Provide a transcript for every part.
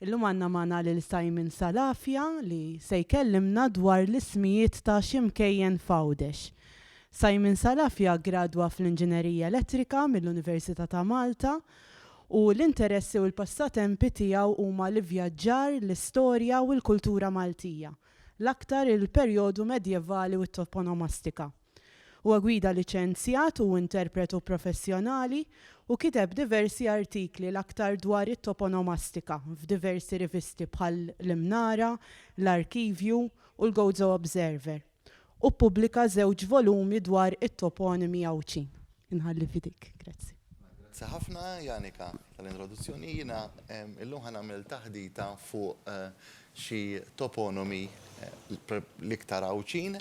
Illum għandna magħna lil Simon Salafia li se jkellimna dwar l-ismijiet ta' xi mkejjen f'Għawdex. Simon Salafia ggradwa fl-Inġinerija Elettrika mill-Università ta' Malta u l-interessi u l-passatempi tiegħu huma l-ivvjaġġar, l-istorja u l-kultura Maltija, l-aktar il-perjodu medjevali u t-toponomastika. Huwa gwida liċenzjat u interpretu professjonali u kiteb diversi artikli l-aktar dwar it-toponomastika f'diversi rivisti bħal l-Imnara, l-Arkivju u l-Gozo Observer u ppubblika żewġ volumi dwar it-toponimi Għawdxin. Inħalli f'idejk. Grazzi. Grazzi ħafna, Janika, tal-introduzzjoni. Jiena illum ħa nagħmel taħdita fuq xi toponimi l-iktar Għawdxin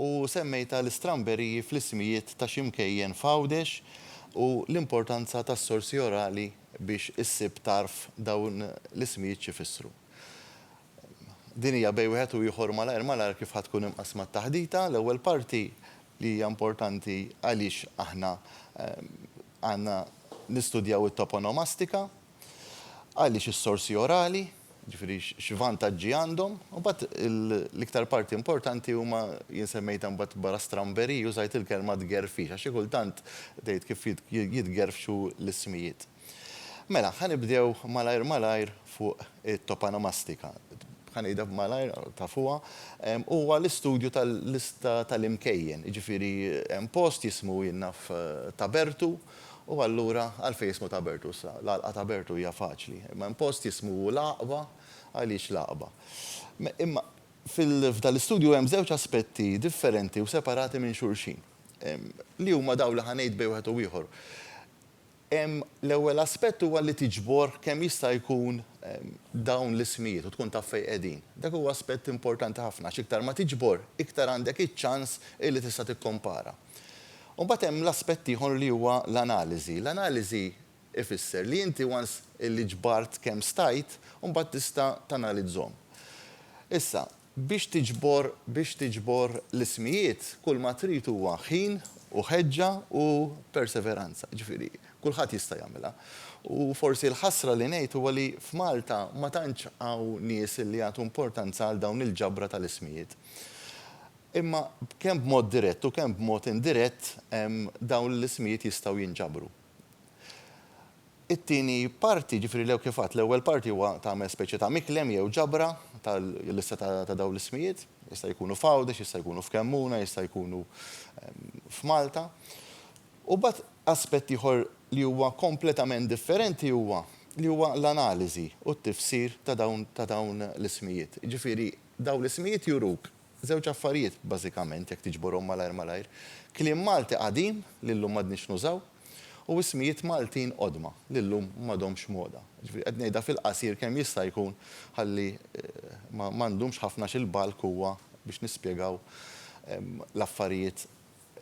u semmejtha l-istramberiji fl-ismijiet ta' xi mkejjen f'Għawdex u l-importanza tas-sorsi orali biex issib tarf dawn l-ismijiet x'ifissru. Din hija bejn wieħed u ieħor malajr malajr kif ħa tkun imqassma t-taħdita. L-ewwel parti li hija importanti għaliex aħna għandna nistudjaw it-toponomastika, għaliex is-sorsi orali, jiġifieri x'vantaġġi għandhom. U mbagħad l-iktar parti importanti huma, jien semmejtha mbagħad wara stramberiji, użajt il-kelma tgerfix, għax xi kultant tgħid kif jitgerfxu l-ismijiet. Mela, ħa nibdew malajr malajr fuq it-topanamastika. Ħa ngħidha b'malajr, tafuha. Huwa l-istudju tal-lista tal-imkejjen, jiġifieri hemm post jismu jien naf Tabertu u allura għalfejn jismu Tabertu issa? L-għalqa Tabertu hija faċli. Imma hemm post jismu l-Għaqba, għaliex l-Għaqba? Imma f'dan l-istudju hemm żewġ aspetti differenti u separati minn xulxin li huma dawn li ħa ngħid bejn wieħed u ieħor. L-ewwel aspett huwa li tiġbor kemm jista' jkun dawn l-ismijiet u tkun taf fejn qegħdin. Dak huwa aspett importanti ħafna għax iktar ma tiġbor, iktar għandek iċ-ċans illi tista' tikkompara. U mbagħad hemm l-aspett ieħor li huwa l-analiżi. L-analiżi jfisser li inti once illi ġbart kemm stajt, imbagħad tista' tanalizzhom. Issa, Biex tiġbor biex tiġbor l-ismijiet kulma trid huwa ħin u ħeġġa u perseveranza, jiġifieri kulħadd jista' jagħmilha. U forsi l-ħasra li ngħid huwa li f'Malta ma tantx hawn nies li jagħtu importanza għal dawn il-ġabra tal-ismijiet. Imma kemm b'mod dirett u kemm b'mod indirett dawn l-ismijiet jistgħu jinġabru. It-tieni parti, ġifieri l-ew kif għadt, l-ewwel parti huwa tagħmel speċi ta' miklem jew ġabra tal-lista ta' dawn l-ismijiet. Jista' jkunu f'Għawdex, jista' jkunu f'Kemmuna, jista' jkunu f'Malta. U mbagħad aspett ieħor li huwa kompletament differenti huwa li huwa l-analiżi u t-tifsir ta' dawn ta' dawn l-ismijiet. Ġifieri dawn l-ismijiet juruk Żewġ affarijiet, bażikament, jekk tiġborhom malajr malajr, kliem Malti qadim li llum m'għadniex nużaw u ismijiet Maltin qodma li llum m'għadhomx moda. Jiġifieri qed ngħidha fil-qasir kemm jista' jkun ħalli ma ndumx ħafna xi l-bulk huwa biex nispjegaw l-affarijiet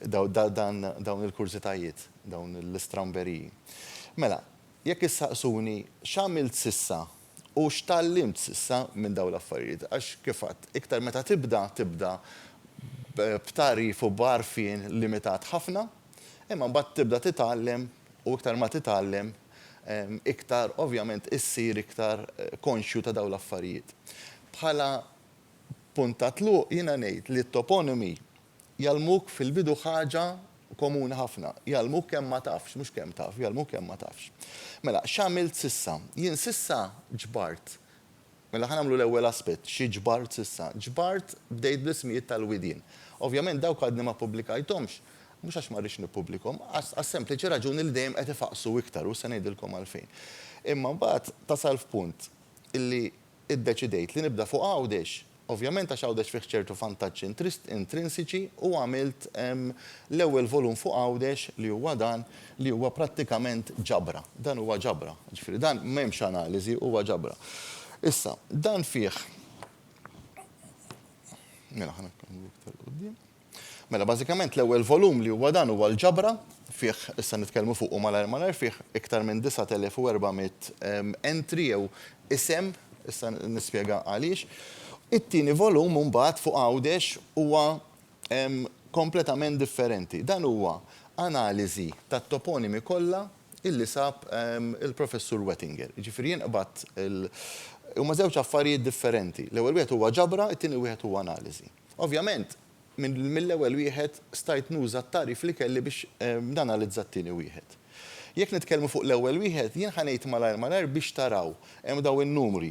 dawn il-kurżitajiet, dawn l-istramberiji. Mela, jekk issaqsuni x'għamilt s'issa U x'tgħallimt s'issa minn dawn l-affarijiet? Għax, kif għedt, iktar meta tibda, tibda b'tagħrif u b'għarfien limitat ħafna, imma mbagħad tibda titgħallem u iktar ma titgħallem, iktar ovvjament issir iktar konxju ta' dawn l-affarijiet. Bħala punt ta' tluq jiena ngħid li t-toponimi, Jgħallmuk fil-bidu ħaġa komuni ħafna. Jgħallmuk kemm ma tafx, mhux kemm taf, jgħallmuk kemm ma tafx. Mela, x'għamilt s'issa? Jien s'issa ġbart. Mela ħa nagħmlu l-ewwel aspett, xi ġbart s'issa? Ġbart, bdejt bl-ismijiet tal-widien. Ovvjament dawk għadni ma ppubblikajthomx, mhux għax ma rridx nippubblikhom, għas-sempliċi raġuni li dejjem qed ifaqqsu iktar u se ngħidilkom għalfejn. Imma mbagħad tasal f'punt illi Iddeċidejt li nibda fuq Għawdex, ovvjament għax Għawdex fih ċertu vantaġġi intrinsiċi u għamilt l-ewwel volum fuq Għawdex li huwa dan li huwa prattikament ġabra. Dan huwa ġabra. Jiġifieri dan m'hemmx analiżi, huwa ġabra. Issa, dan fih, mela ħa nagħmlu iktar 'l quddiem. Mela bażikament l-ewwel volum li huwa dan huwa l-ġabra, fih issa nitkellmu fuqu malajr malajr, fih iktar minn 9400 entry jew isem, issa nispjega għaliex. It-tieni volum imbagħad fuq Għawdex huwa kompletament differenti. Dan huwa analiżi tat-toponimi kollha illi sab il-Professur Wettinger. Jiġifieri jien qbadt il, huma żewġ affarijiet differenti. L-ewwel wieħed huwa ġabra, it-tieni wieħed huwa analiżi. Ovvjament, mill-ewwel wieħed stajt nuża t-tagħrif li kelli biex nanalizza t-tieni wieħed. Jekk nitkellmu fuq l-ewwel wieħed, jien ħa ngħid malajr malajr biex taraw. Hemm dawn in-numri.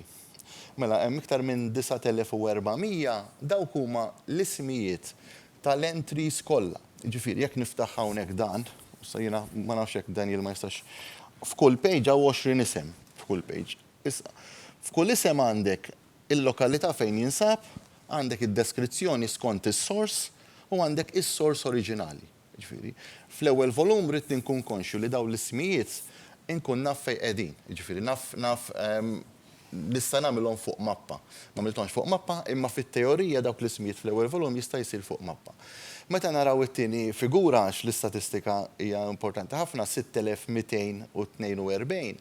Mela, hemm iktar minn 9,400, dawk huma l-ismijiet tal-entries kollha. Jiġifieri, jekk niftaħ hawnhekk dan, issa jiena ma nafx jekk Daniel ma jistax, f'kull page hawn 20 isem, f'kull page. Issa, f'kull isem għandek il-lokalità fejn jinsab, għandek id-deskrizzjoni skont is-sors u għandek is-sors oriġinali. Jiġifieri, fl-ewwel volum ridni nkun konxju li dawn l-ismijiet inkun naf fejn qegħdin. Jiġifieri naf naf nista' nagħmilhom fuq mappa. M'għamilthomx fuq mappa imma fit-teorija dawk l-ismijiet fl-ewwel volum jista' jsir fuq mappa. Meta naraw it-tieni figura għax l-istatistika hija importanti ħafna, 6242,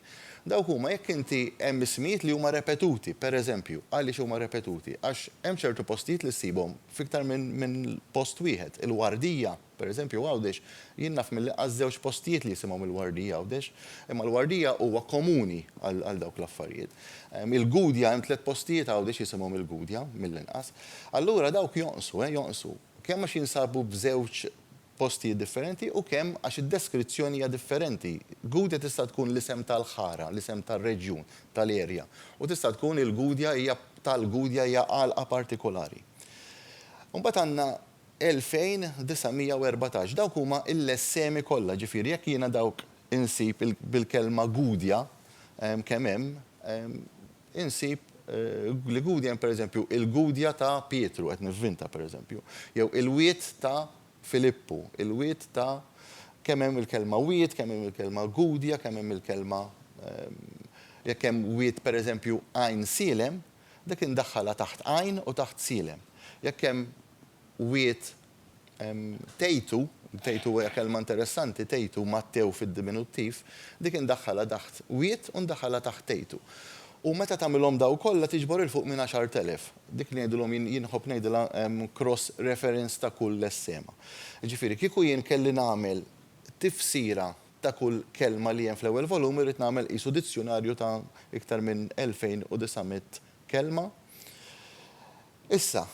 Dawk huma jekk inti hemm ismijiet li huma repetuti, pereżempju, għaliex huma repetuti? Għax hemm ċertu postijiet li ssibhom f'iktar minn minn post wieħed. Il-Wardija, pereżempju Għawdex, jien naf milli qas żewġ postijiet li jisimhom il-Wardija Għawdex. Imma l-Wardija huwa komuni għal għal dawk l-affarijiet. Il-Gudja hemm tliet postijiet Għawdex jisimhom il-Gudja, mill-inqas. Allura dawk jonqsu, eh, jonqsu. Kemm għax jinsabu b'żewġ postijiet differenti u kemm għax id-deskrizzjoni hija differenti. Gudja tista' tkun l-isem tal-ħara, l-isem tar-reġjun, tal-area, u tista' tkun il-Gudja hija tal-Gudja hija għalqa partikolari. Imbagħad għandna 2914. Dawk huma l-essemi kollha, ġifieri jekk jiena dawk insib bil-kelma Gudja kemm hemm, insib li Gudja hemm pereżempju il-Gudja ta' Pietru, qed nivvinta pereżempju, jew il-wied ta' Filippu, il-wied ta' kemm hemm il-kelma wied, kemm hemm il-kelma Gudja, kemm hemm il-kelma jekk hemm wied pereżempju Għajn Sielem, dik indaħħalha taħt Għajn u taħt Sielem. Jekk hemm wied Tgħidu, tgħidu hija kelma interessanti, tgħidu, Mattew fid-diminuttiv, dik indaħħalha taħt wied u ndaħħalha taħt tgħidu. U meta tagħmilhom dawn kollha tiġbor 'il fuq minn għaxart elef. Dik li ngħidilhom jien, jien inħobb ngħidilha cross reference ta' kull lessema. Jiġifieri kieku jien kelli nagħmel tifsira ta' kull kelma li hemm fl-ewwel volum irrid nagħmel qisu dizzjunarju ta' iktar minn 2,900 kelma. Issa,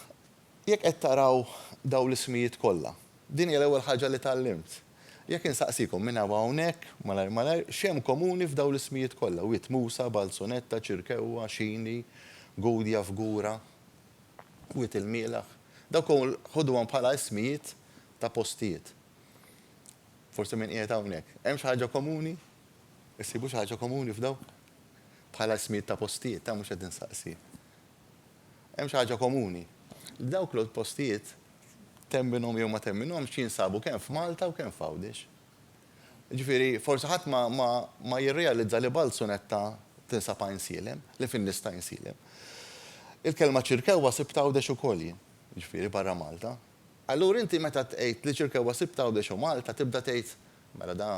Jekk qed taraw dawn l-ismijiet kollha, din hija l-ewwel ħaġa li tgħallimt. Jekk insaqsikom minn hawn u hawnhekk, malajr malajr, x'hemm komuni f'dawn l-ismijiet kollha, Wied Musa, Balzonetta, Ċirkewwa, Xini, Gudja, Fgura, Wied il-Mielaħ, dawk koll ħuduhom bħala ismijiet ta' postijiet. Forsi min qiegħed hawnhekk, hemm xi ħaġa komuni? Issibu xi ħaġa komuni f'dawn? Bħala ismijiet ta' postijiet, ha, mhux qed insaqsi. Hemm xi ħaġa komuni. Dawk l-outpostijiet, temminhom jew ma temminhomx, jinsabu kemm f'Malta u kemm f'Għawdex. Jiġifieri, forsi ħadd ma, ma, ma jirrealizza li Balzunetta tinsab Għajnsielem, li fin-nies ta' Għajnsielem. Il-kelma Ċirkewwa sibtha Għawdex ukoll jien, jiġifieri barra Malta. Allura inti meta tgħid li Ċirkewwa sibtha Għawdex u Malta tibda tgħid Mela da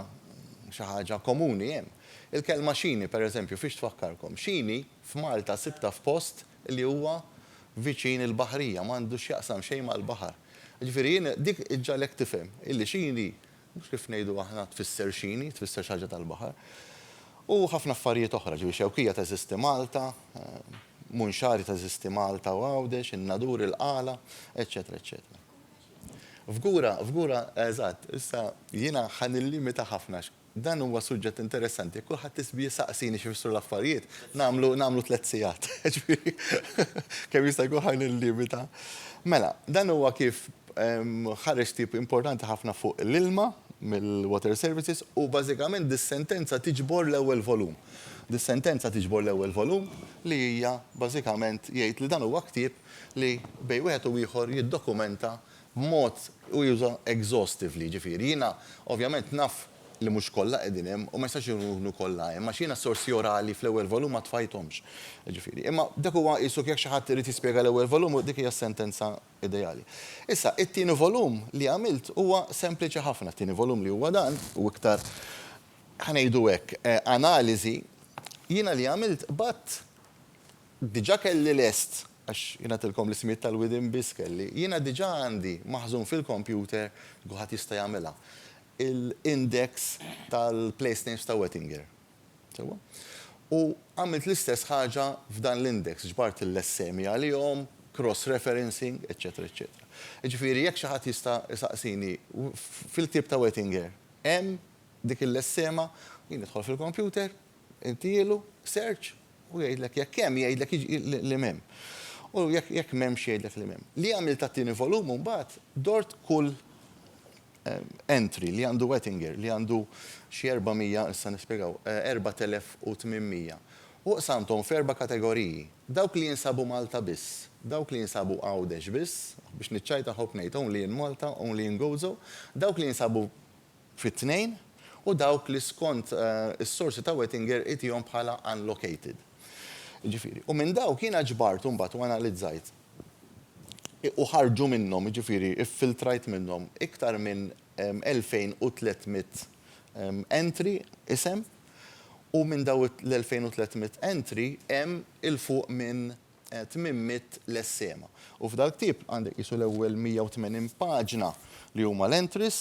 xi ħaġa komuni hemm. Il-kelma xini, per eżempju, fiex tfakkarkom? Xini f'Malta sibtha f'post li huwa viċin il-baħrija, m'għandu x'jaqsam xejn mal-baħar. Jiġifieri jien dik iġġagħlek tifhem illi xini, mhux kif ngħidu aħna tfisser xini, tfisser xi ħaġa tal-baħar. U ħafna affarijiet oħra, jiġifieri Xewkija teżisti Malta, Munxari teżisti Malta u Għawdex, in-Nadur, il-Qala, eċċetera, eċċetera. F'gura, f'gura, eżatt. Issa, jiena ħa nillimita ħafna għax dan huwa suġġett interessanti. Jekk kulħadd isbi jsaqsini x'ifissru l-affarijiet, nagħmlu, nagħmlu tliet sigħat. Jiġifieri, kemm jista' jkun ħa nillimita. Mela, dan huwa kif ħareġ tip importanti ħafna fuq l-ilma mill-Water Services u bażikament dis-sentenza tiġbor l-ewwel volum. Dis-sentenza tiġbor l-ewwel volum li hija bażikament jgħid li dan huwa ktieb li bejn wieħed u ieħor jiddokumenta b'mod u juża exhaustively, jiġifieri jiena ovvjament naf li mhux kollha qegħdin hemm u ma jistax ikunu kollha hemm għax jiena s-sorsi orali fl-ewwel volum ma tfajthomx. Jiġifieri, imma dak huwa qisu jekk xi ħadd irid jispjega l-ewwel volum dik hija s-sentenza ideali. Issa, it-tieni volum li għamilt huwa sempliċi ħafna, t-tieni volum li huwa dan u iktar, ħa ngħidu hekk, analiżi, jiena li għamilt qbadt, Diġà kelli lest, għax jien għedtilkom l-ismijiet tal-widien biss kelli, jiena diġà għandi maħżun fil-kompjuter, kulħadd jista' jagħmilha, il-index tal-place names ta' Wettinger. Sewwa? U għamilt l-istess ħaġa f'dan l-index, ġbart l-essemi għalihom, cross referencing, eċċetera eċċetera. Jiġifieri jekk xi ħadd jista' jsaqsini, fil-ktieb ta' Wettinger hemm dik l-essema, jien nidħol fil-kompjuter, Intielu search u jgħidlek jekk hemm, jgħidlek li m'hemm. U jekk m'hemmx jgħidlek li m'hemm. Li għamilt għat-tieni volum imbagħad dort kull entry li għandu Ettinger li għandu xi 400, issa nispjegaw, 4800. U qsamthom f'erba' kategoriji. Dawk li jinsabu Malta biss, dawk li jinsabu Għawdex biss, biex niċċajta nħobb ngħid only in Malta, only in Gozo, dawk li jinsabu fit-tnejn, u dawk li skont is-sorsi ta' Wettinger igħtihom bħala unlocated. Jiġifieri, u minn dawk jiena ġbart imbagħad u analizzajt u ħarġu minnhom, jiġifieri ffiltrajt minnhom iktar minn 2,300 entry, isem, u minn dawn l-2,300 entry hemm 'il fuq minn tmiem mitt lessema. U f'dal-ktieb għandek qisu l-ewwel 180 paġna li huma l-entries,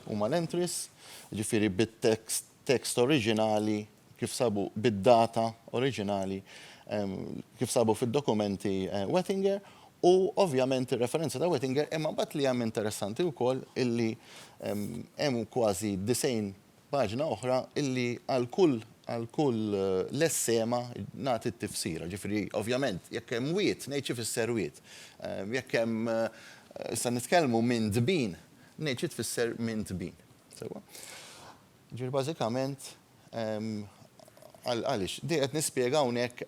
huma l-entries, jiġifieri bit-text, text oriġinali kif sabu, bid-data oriġinali kif sabu fid-dokumenti Wettinger, u ovvjament ir-referenza ta' Wettinger, imma mbagħad li hemm interessanti wkoll illi hemm kważi 90 Paġna oħra illi għal kull għal kull lessema nagħti t-tifsira. Ġifieri, ovvjament, jekk hemm wied, ngħid x'ifisser wied. Jekk hemm issa nitkellmu minn tbin, ngħid xi tfisser minn tbin. Sewwa? Ġifieri bażikament għaliex din qed nispjega hawnhekk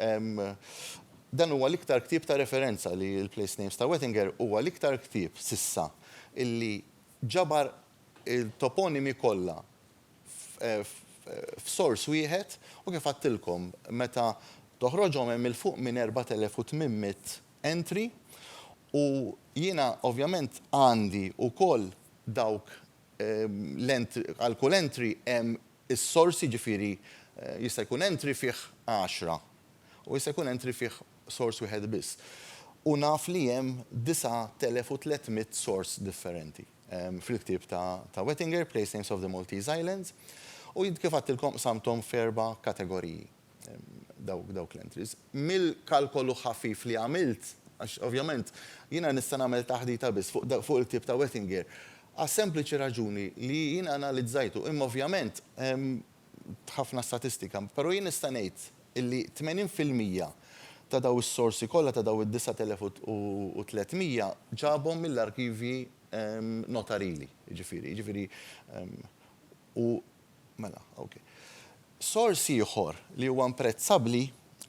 dan huwa l-iktar ktieb ta' referenza li l-Place Names ta' Wettinger huwa l-iktar ktieb s'issa illi ġabar il-toponimi kollha f'sors wieħed u kif għadtilkom meta toħroġhom hemm 'il fuq minn 4,800 entry u jiena ovvjament għandi wkoll dawk għal kull entry hemm is-sors jiġifieri jista' jkun entry fih għaxra u jista' jkun entry fih sors wieħed biss u naf li hemm 9,300 sors differenti. fil-ktieb ta' Wettinger, Place Names of the Maltese Islands, u jien kif għadtilkom qsamthom f'erba' kategoriji dawk l-entries. Mill-kalkolu ħafif li għamilt, għax ovvjament jiena nista' nagħmel taħdita biss fuq il-ktieb ta' Wettinger, għas-sempliċi raġuni li jiena analizzajtu, imma ovvjament b'ħafna statistika, però jien nista' ngħid illi 80 fil-mija ta' dawn is-sorsi kollha ta' dawn id-9,300 ġabhom mill-arkivji notarili, jiġifieri, jiġifieri, u, mela, ok. Sors ieħor li huwa imprezzabbli,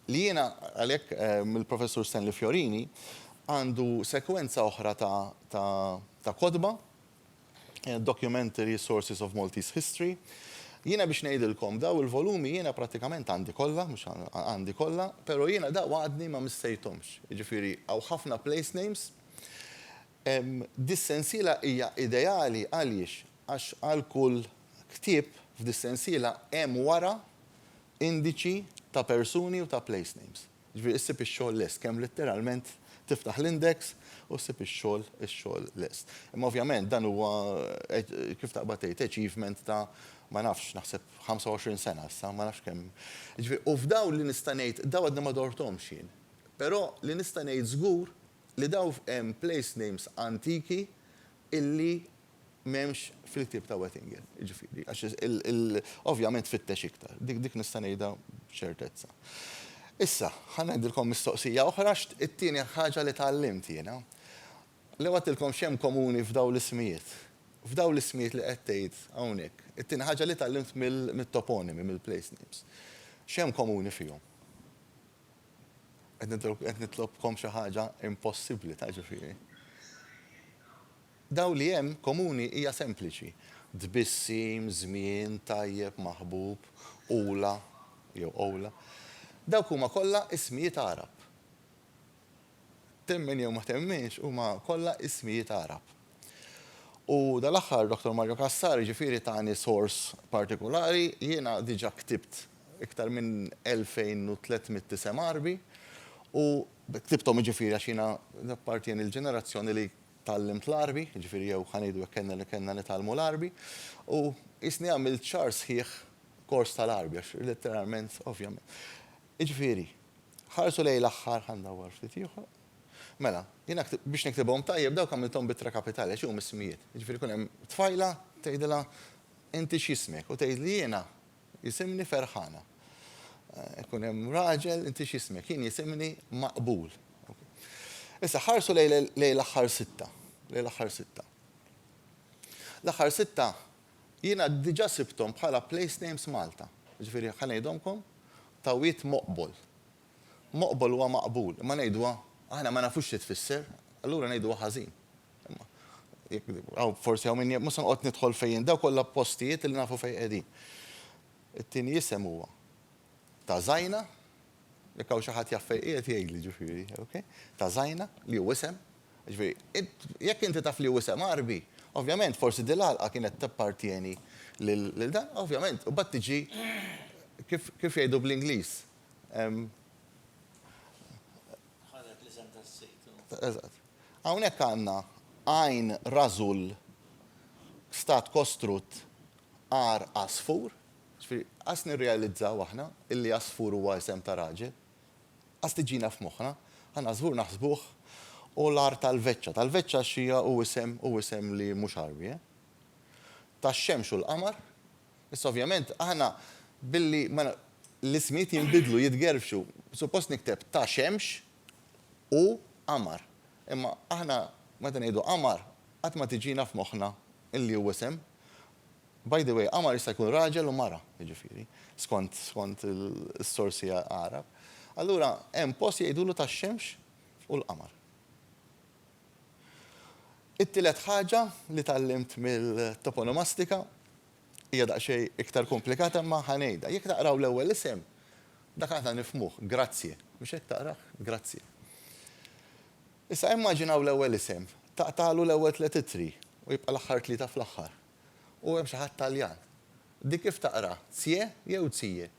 li jiena għalhekk mill-Professur Stanley Fiorini, għandu sekwenza oħra ta' kotba Documentary Sources of Maltese History. Jiena biex ngħidilkom, dawn il-volumi jiena prattikament għandi kollha, mhux għandi kollha, però jiena dawn għadni ma missejthomx. Jiġifieri hawn ħafna place names. Dis-sensiela hija ideali għaliex? Għax għal kull ktieb f'dis-sensiela hemm wara indiċi ta' persuni u ta' place names. Jiġifieri issib ix-xogħol lest, kemm litteralment tiftaħ l-index u ssib ix-xogħol, ix-xogħol lest. Imma ovvjament dan huwa kif taqbad tgħid, achievement ta' ma nafx, naħseb 25 sena issa, ma nafx kemm. Jiġifieri u f'dawn li nista' ngħid, dawn għadni ma dorthomx jien, però li nista' ngħid żgur li dawn hemm place names antiki illi, M'hemmx fil-ktieb ta' Oettingen, jiġifieri, għax ovvjament fittex iktar. Dik nista' ngħidha b'ċertezza. Issa, ħa ngħidilkom mistoqsija oħra, it-tieni ħaġa li tgħallimt jiena. Lew għedtilkom x'hemm komuni f'dawn l-ismijiet. F'dawn l-ismijiet li qed tgħid hawnhekk. It-tieni ħaġa li tgħallimt mit-toponimi, mill-place names. X'hemm komuni fihom? Qed nitlobkom xi ħaġa impossibbli ta' ġifieri. Dawl li hemm komuni hija sempliċi, tbissim, żmien, tajjeb, maħbub, Ula, jew Oula. Dawk huma kollha ismijiet Għarab. Temmen jew ma temminx, huma kollha ismijiet Għarab. U dal-aħħar Doctor Mario Cassar jiġifieri tani source partikulari, jiena diġa ktibt iktar minn 2,300 isem Għarbi u ktibthom jiġifieri għax jiena nappartjeni l-ġenerazzjoni li tgħallimt l-Għarbi, jiġifieri jew ħa ngħidu hekk kellna nitgħallmu l-Għarbi, u qisni għamilt xahar sħiħ kors tal-Għarbi għax letteralment, ovvjament. Jiġifieri, ħarsu lejn l-aħħar, ħa ndawwar ftit ieħor. Mela, jiena biex niktibhom tajjeb dawk għamilthom b'ittra kapitali għax huma ismijiet. Jiġifieri jkun hemm tfajla tgħidilha inti x'jismek u tgħidli jiena Jisimni Ferħana. Ikun hemm raġel, inti x'jismek? Jien jisimni Maqbul. Issa ħarsu lejn l-aħħar sitta, lejn l-aħħar sitta. L-aħħar sitta jiena diġà sibthom bħala place names Malta. Jiġifieri ħa ngħidhomkom, Tawwit Moqbol. Moqbol huwa maqbul, imma ngħiduha, aħna ma nafux xi tfisser, allura ngħiduha ħażin. Imma jekk hawn forsi hawn min, mhux se noqgħod nidħol fejn, dawk kollha postijiet li nafu fejn qegħdin. It-tieni isem huwa ta' Zajna, jekk hawn xi ħadd jaf fejn qiegħed jgħidli ġifieri, ok? Ta' Zajna, li hu isem, ġifieri, int, jekk inti taf li hu isem Għarbi, ovvjament forsi din l-għalqa kienet tappartjeni lil dan, ovvjament, u mbagħad tiġi kif kif jgħidu bl-Ingliż, Hawnhekk għandna għajn rażul f'stat kostrutt għar għasfur. Ġifieri, qas nirrealizzaw aħna illi għasfur huwa isem ta' raġel. Qas tiġina f'moħħna. Aħna għasfur naħsbuh hu l-għar tal-veċċa. Tal-veċċa għax hija hu isem, hu isem li mhux Għarbi, eh. Tax-xemx u l-qamar. Issa ovvjament aħna billi ma l-ismijiet jinbidlu, jitgerfxu, suppost nikteb ta' xemx u qamar. Imma aħna meta ngħidu qamar qatt ma tiġina f'moħħna li hu isem. By the way, qamar jista' jkun raġel u mara, jiġifieri, skont skont is-sorsi Għarab. Allura hemm post jgħidulu tax-xemx u l-qamar. It-tielet ħaġa li tgħallimt mill-toponomastika hija daqsxejn iktar komplikata imma ħa ngħidha. Jekk taqraw l-ewwel isem, dak aħna nifhmuh, Grazie. Mhux hekk taqrah? Grazie. Issa immaġinaw l-ewwel isem, taqtagħlu l-ewwel tliet ittri u jibqa' l-aħħar tlieta fl-aħħar. U hemm xi ħadd Taljan. Din kif taqra, Zie jew Zie?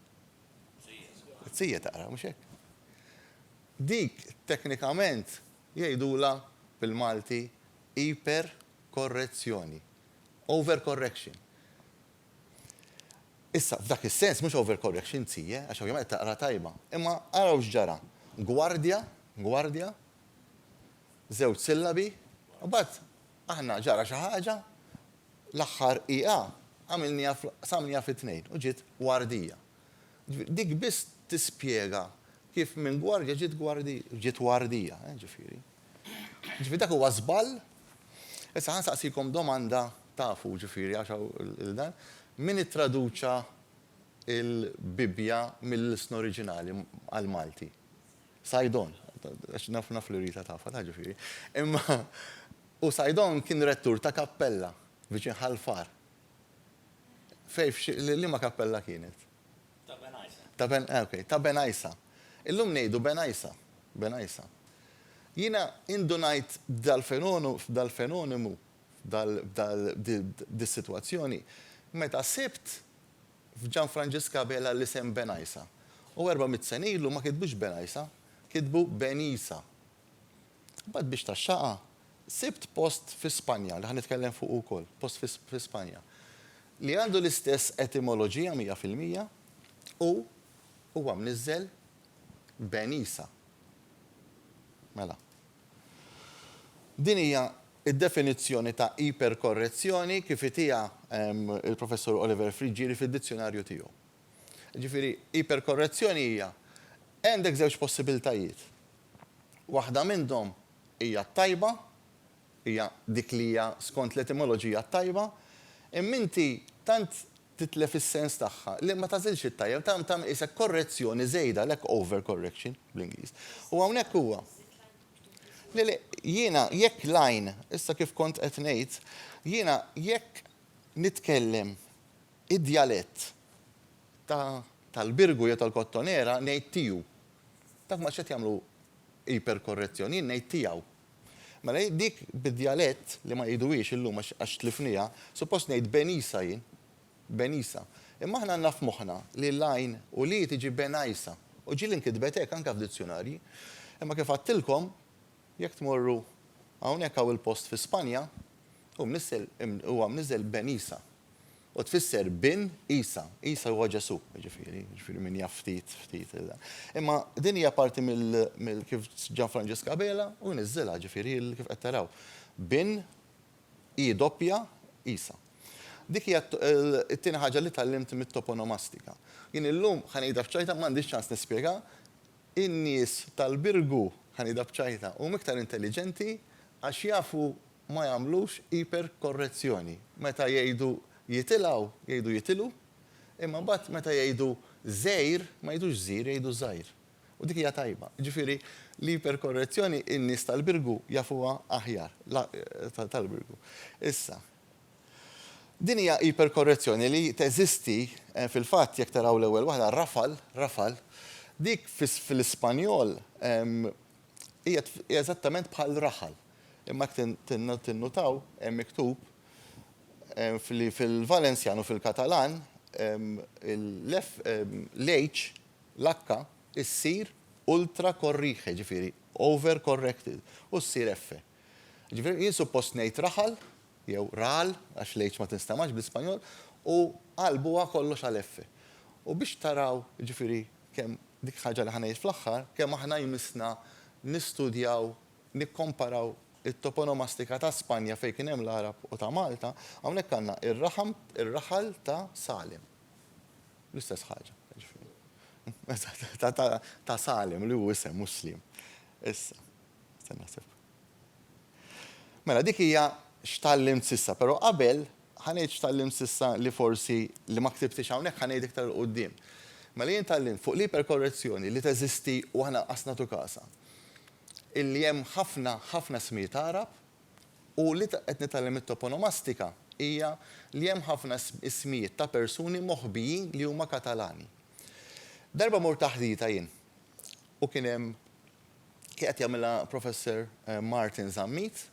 Zie taqra, mhux hekk? Dik teknikament Jgħidulha bil-Malti iperkorrezzjoni, overcorrection. Issa, f'dak is-sens mhux overcorrection zie, għax ovvjament qed taqra tajba. Imma araw x'ġara. Gwardja, gwardja, żewġ sillabi, u mbagħad aħna ġara xi ħaġa, l-aħħar i a għamilniha, qsamniha fi tnejn u ġiet wardija. Dik biss tispjega kif minn gwardja ġiet gwardija, ġiet wardija, eh, ġifieri. Ġifieri dak huwa żball? Issa ħa nsaqsikom domanda, tafu, ġifieri, għax hawn il-dan, min ittraduċa l-Bibbja mill-ilsna oriġinali għall-Malti? Saidon, għax naf, naf li Rita tafha, taf ġifieri. Imma, u Saidon kien rettur ta' kappella viċin Ħal Far, Fej, f'liema kappella kienet? Ta' Ben Għajsa. Ta' Ben, eh, okej, ta' Ben Għajsa. Illum ngħidu Ben Għajsa, Ben Għajsa. Jiena indunajt b'dal-fenonu, f'dal-fenonimu, f'dal, f'dal, b'dis-sitwazzjoni, meta sibt f'Ġanfranġisk Abela l-isem Ben Għajsa. U erba' mitt sena ilu ma kitbux Ben Għajsa, kitbu Ben Isa. Imbagħad biex taxxaqha, sibt post fi Spanja, li ħa nitkellem fuqu wkoll, post fi fi Spanja, li għandu l-istess etimoloġija mija fil-mija u huwa mniżżel Ben Isa. Mela. Din hija d-definizzjoni ta' iperkorrezzjoni kif itiha l-Professur Oliver Friggieri fid-dizzjunarju tiegħu. Jiġifieri, iperkorrezzjoni hija għandek żewġ possibiltajiet. Waħda minnhom hija t-tajba, hija dik li hija skont l-etimoloġija t-tajba, imma inti tant titlef is-sens tagħha li ma tagħżilx it-tajjeb, tant tagħmel qisek korrezzjoni żejda, għalhekk overcorrection bl-Ingliż. U hawnhekk huwa. Le, le, jiena jekk l-għajn, issa kif kont qed ngħid, jiena jekk nitkellem Id-djalett ta' tal-Birgu jew tal-Kottonera ngħid tiju. Dawk ma tantx qed jagħmlu iperkorrezzjoni, jien ngħid tijaw. Mela jien dik bid-djalett li ma jgħiduhiex illum għax għax tlifniha, suppost ngħid Benisa jien. Benisa. Imma aħna għandna f'moħħna li l-għajn u l-i tiġi Benajsa. U ġieli nkitbet hekk anke f'dizzjunarji. Imma kif għadtilkom, Jekk tmorru hawnhekk hawn il-post fi Spanja hu mnissel huwa mniżżel Ben Isa u tfisser bin Isa. Isa huwa Ġesù, jiġifieri, jiġifieri min jaf ftit, ftit. Imma din hija parti mill, mill kif Ġan Franġisk Abela hu niżżilha, jiġifieri kif qed taraw. Bin, i doppja, Isa. Dik hija t-tieni ħaġa li tgħallimt mit-toponomastika. Jien illum ħa ngħidha f'ċajta m'għandix ċans nispjega In-nies tal-Birgu, Ħanidha b'ċajta, huma iktar intelliġenti għax jafu ma jagħmlux iperkorrezzjoni. Meta jgħidu jitilgħu, jgħidu jitilgħu, imma mbagħad meta jgħidu żgħir, ma jgħidux żgħir, jgħidu żgħir. U dik hija tajba. Jiġifieri, l-iperkorrezzjoni in-nies tal-Birgu jafuha aħjar, tal-Birgu. Issa. Din hija iperkorrezzjoni li teżisti, fil-fatt, jekk taraw l-ewwel waħda, rafal, rafal, dik fl-Ispanjol hija eżattament bħal raħal. Imma jekk tinnutaw, hemm miktub li fil-Valenzjan u fil-Katalan l-H, l-H issir ultracorrige, jiġifieri overcorrected, u ssir F. Jiġifieri jien suppost ngħid raħal, jew raal, għax l-h ma tinstamax bl-Ispanjol, u qalb huwa kollox għal f. U biex taraw, jiġifieri, kemm dik il-ħaġa li ħa ngħid fl-aħħar, kemm aħna jmissna nistudjaw, nikkomparaw it-toponomastika ta' Spanja fejn kien hemm l-Għarab u ta' Malta, hawnhekk għandna ir-raħam, ir-raħal ta' Salim. L-istess ħaġa, jiġifieri. Ta' Salim, li hu isem, mhux Slim. Issa. Stenna naħseb. Mela dik hija x'tgħallimt s'issa, però qabel ħa ngħid x'tgħallimt s'issa li forsi li ma ktibtix hawnhekk ħa ngħid iktar 'l quddiem. Mela jien tgħallimt fuq l-iperkorrezzjoni li teżisti u aħna lanqas nagħtu kasha. Illi hemm ħafna, ħafna ismijiet Għarab u li qed nitgħallem mit-toponomastika hija li hemm ħafna ismijiet ta' persuni moħbijin li huma Katalani. Darba mort taħdita jien u kien hemm qiegħed jagħmilha Professor Martin Zammit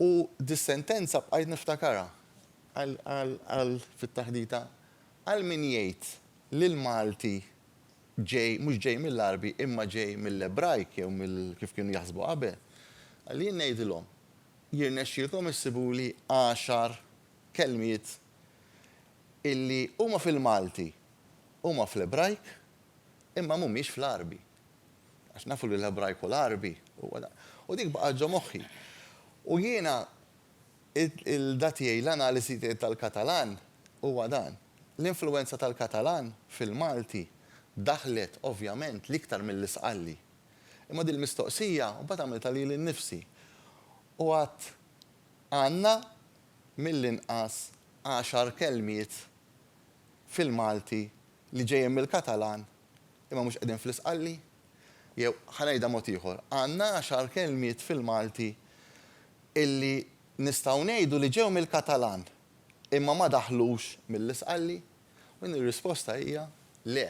u dis-sentenza bqajt niftakarha għal fit-taħdita għal min jgħid li l-Malti ġej mhux ġej mill-Għarbi imma ġej mill-Ebrajk jew mill kif kienu jaħsbu qabel, għal jien ngħidilhom jirnexxielkom issibuli għaxar kelmiet illi huma fil-Malti, huma fl-Ebrajk imma mhumiex fl-Għarbi. Għax nafu li l-Ebrajk u l-Għarbi huwa dan. U dik baqgħet ġo moħħi. U jiena il-da tiegħi, l-analisi tiegħi tal-Katalan huwa dan. L-influwenza tal-Katalan fil-Malti daħlet, ovvjament, l-iktar milli sqalli. Imma dil-mistoqsija mbagħad għamiltha lili nnifsi. U għadt, Għandna mill-inqas għaxar kelmiet fil-Malti li ġejjin mill-Katalan imma mhux qegħdin fl-isqalli? Jew, ħa ngħidha mod ieħor, għandna għaxar kelmiet fil-Malti illi nistgħu ngħidu li ġew mill-Katalan imma ma daħlux mill-isqalli? U din ir-risposta hija le.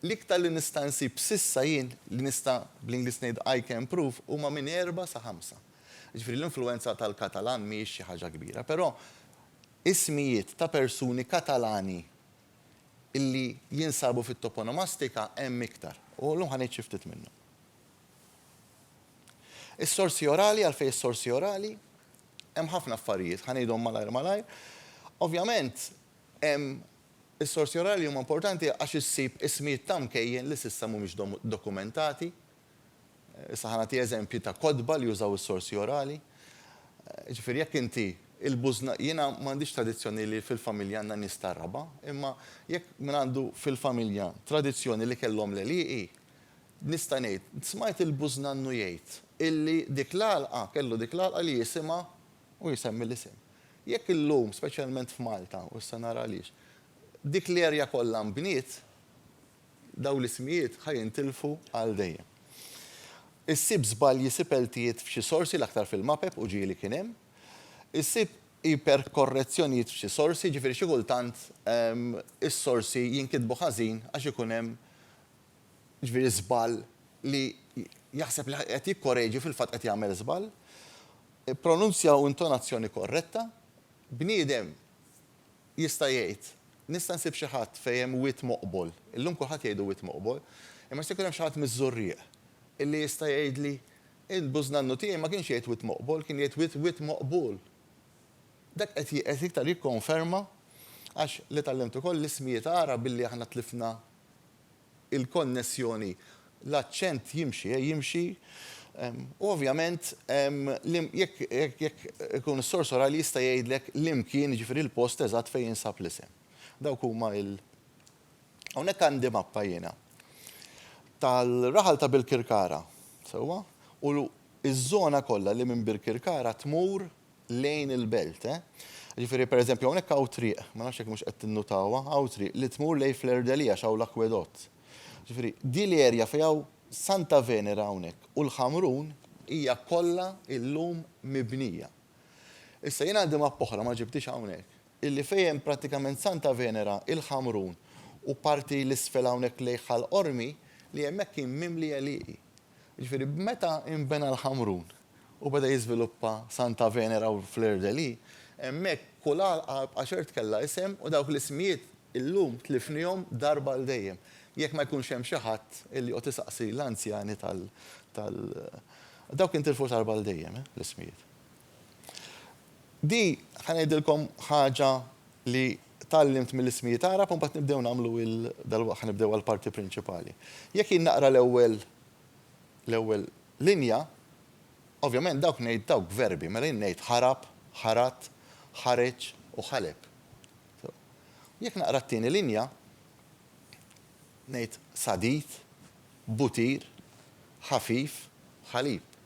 L-iktar li nista' nsib s'issa jien, li nista' bl-Ingliż ngħid I can prove, huma minn erbgħa sa ħamsa. Jiġifieri l-influwenza tal-Katalan mhijiex xi ħaġa kbira, però ismijiet ta' persuni Katalani, li jinsabu fit-toponomastika hemm iktar, u llum ħa ngħid xi ftit minnhom. Is-sorsi orali, għalfejn is-sorsi orali? Hemm ħafna affarijiet, ħa ngħidhom malajr malajr. Ovvjament, hemm is-sorsi orali huma importanti għax issib ismijiet ta' mkejjen li s'issa mhumiex dokumentati, Issa ħa nagħti eżempji ta' kotba li jużaw is-sorsi orali. Jiġifieri jekk inti il-bużna, jiena m'għandix tradizzjoni li fil-familja għandna nies tar-raba', imma jekk min għandu fil-familja tradizzjoni li kellhom l-għelieqi, nista' ngħid, smajt il-bużnannu jgħid illi dik l-għalqa, kellu dik l-għalqa li jisimha u jsemmi l-isem. Jekk illum, speċjalment f'Malta, u issa nara għaliex, dik l-erja kollha nbniet, Dawn l-ismijiet ħa jintilfu għal dejjem. Issib żbalji, issib għeltiet f'xi sorsi, l-aktar fil-mapep u ġieli kien hemm. Issib iperkorrezzjonijiet f'xi sorsi, jiġifieri xi kultant is-sorsi jinkitbu ħażin għax ikun hemm jiġifieri żball li jaħseb li qed jikkoreġi fil-fatt qed jagħmel żball. Pronunzja u intonazzjoni korretta. Bniedem. Jista' jgħid, Nista' nsib xi ħadd fejn hemm wied moqbol. Illum kulħadd jgħidu wied moqbol. Imma jista' jkun hemm xi ħadd miż-Żurrieq illi jista' jgħidli, Int bużnannu tiegħi ma kienx jgħid wied moqbol, kien jgħid wied wied moqbul. Dak qed qed iktar jikkonferma għax li tgħallimt ukoll l-ismijiet Għarab illi aħna tlifna il-konnessjoni, l-aċċent jimxi, jimxi, u ovvjament jekk jekk ikun is-sors orali jista' jgħidlek l-imkien, jiġifieri l-post eżatt fejn jinsab l-isem. Dawk huma il-. Hawnhekk għandi mappa jiena tal-raħal ta' Birkirkara, sewwa? U ż-żona kollha li minn Birkirkara tmur lejn il-belt, eh. Jiġifieri pereżempju hawnhekk hawn triq, ma nafx jekk mhux qed tinnutawha, hawn triq li tmur lejn Fleur de Lis għax hawn l-akwedott. Jiġifieri din l-erja fejn hawn Santa Venera hawnhekk u l-Ħamrun hija kollha illum mibnija. Issa jien għandi mappa oħra ma ġibthiex hawnhekk, illi fejn hemm prattikament Santa Venera, il-Ħamrun u parti 'l isfel hawnhekk lejn Ħal Qormi li hemmhekk kien mimli għelieqi. Jiġifieri meta nbena l-Ħamrun, u beda jiżviluppa Santa Venera u Fleur de Lis, hemmhekk kull għalqa bqa' ċert kellha isem u dawk l-ismijiet illum tlifnihom darba għal dejjem, jekk ma jkunx hemm xi ħadd illi joqgħod isaqsi l-anzjani tal tal dawk intilfu darba għal dejjem l-ismijiet. Di ħa ngħidilkom ħaġa li tgħallimt mill-ismijiet Għarab u mbagħad nibdew nagħmlu il dalwaqt ħa nibdew għall-parti prinċipali. Jekk jien naqra l-ewwel l-ewwel Linja, Ovvjament dawk ngħid dawk verbi, mela jien ngħid ħarab, ħarat, ħareġ u ħaleb. Sew. U jekk naqra t-tieni linja, ngħid sadid, butir, ħafif, ħalib.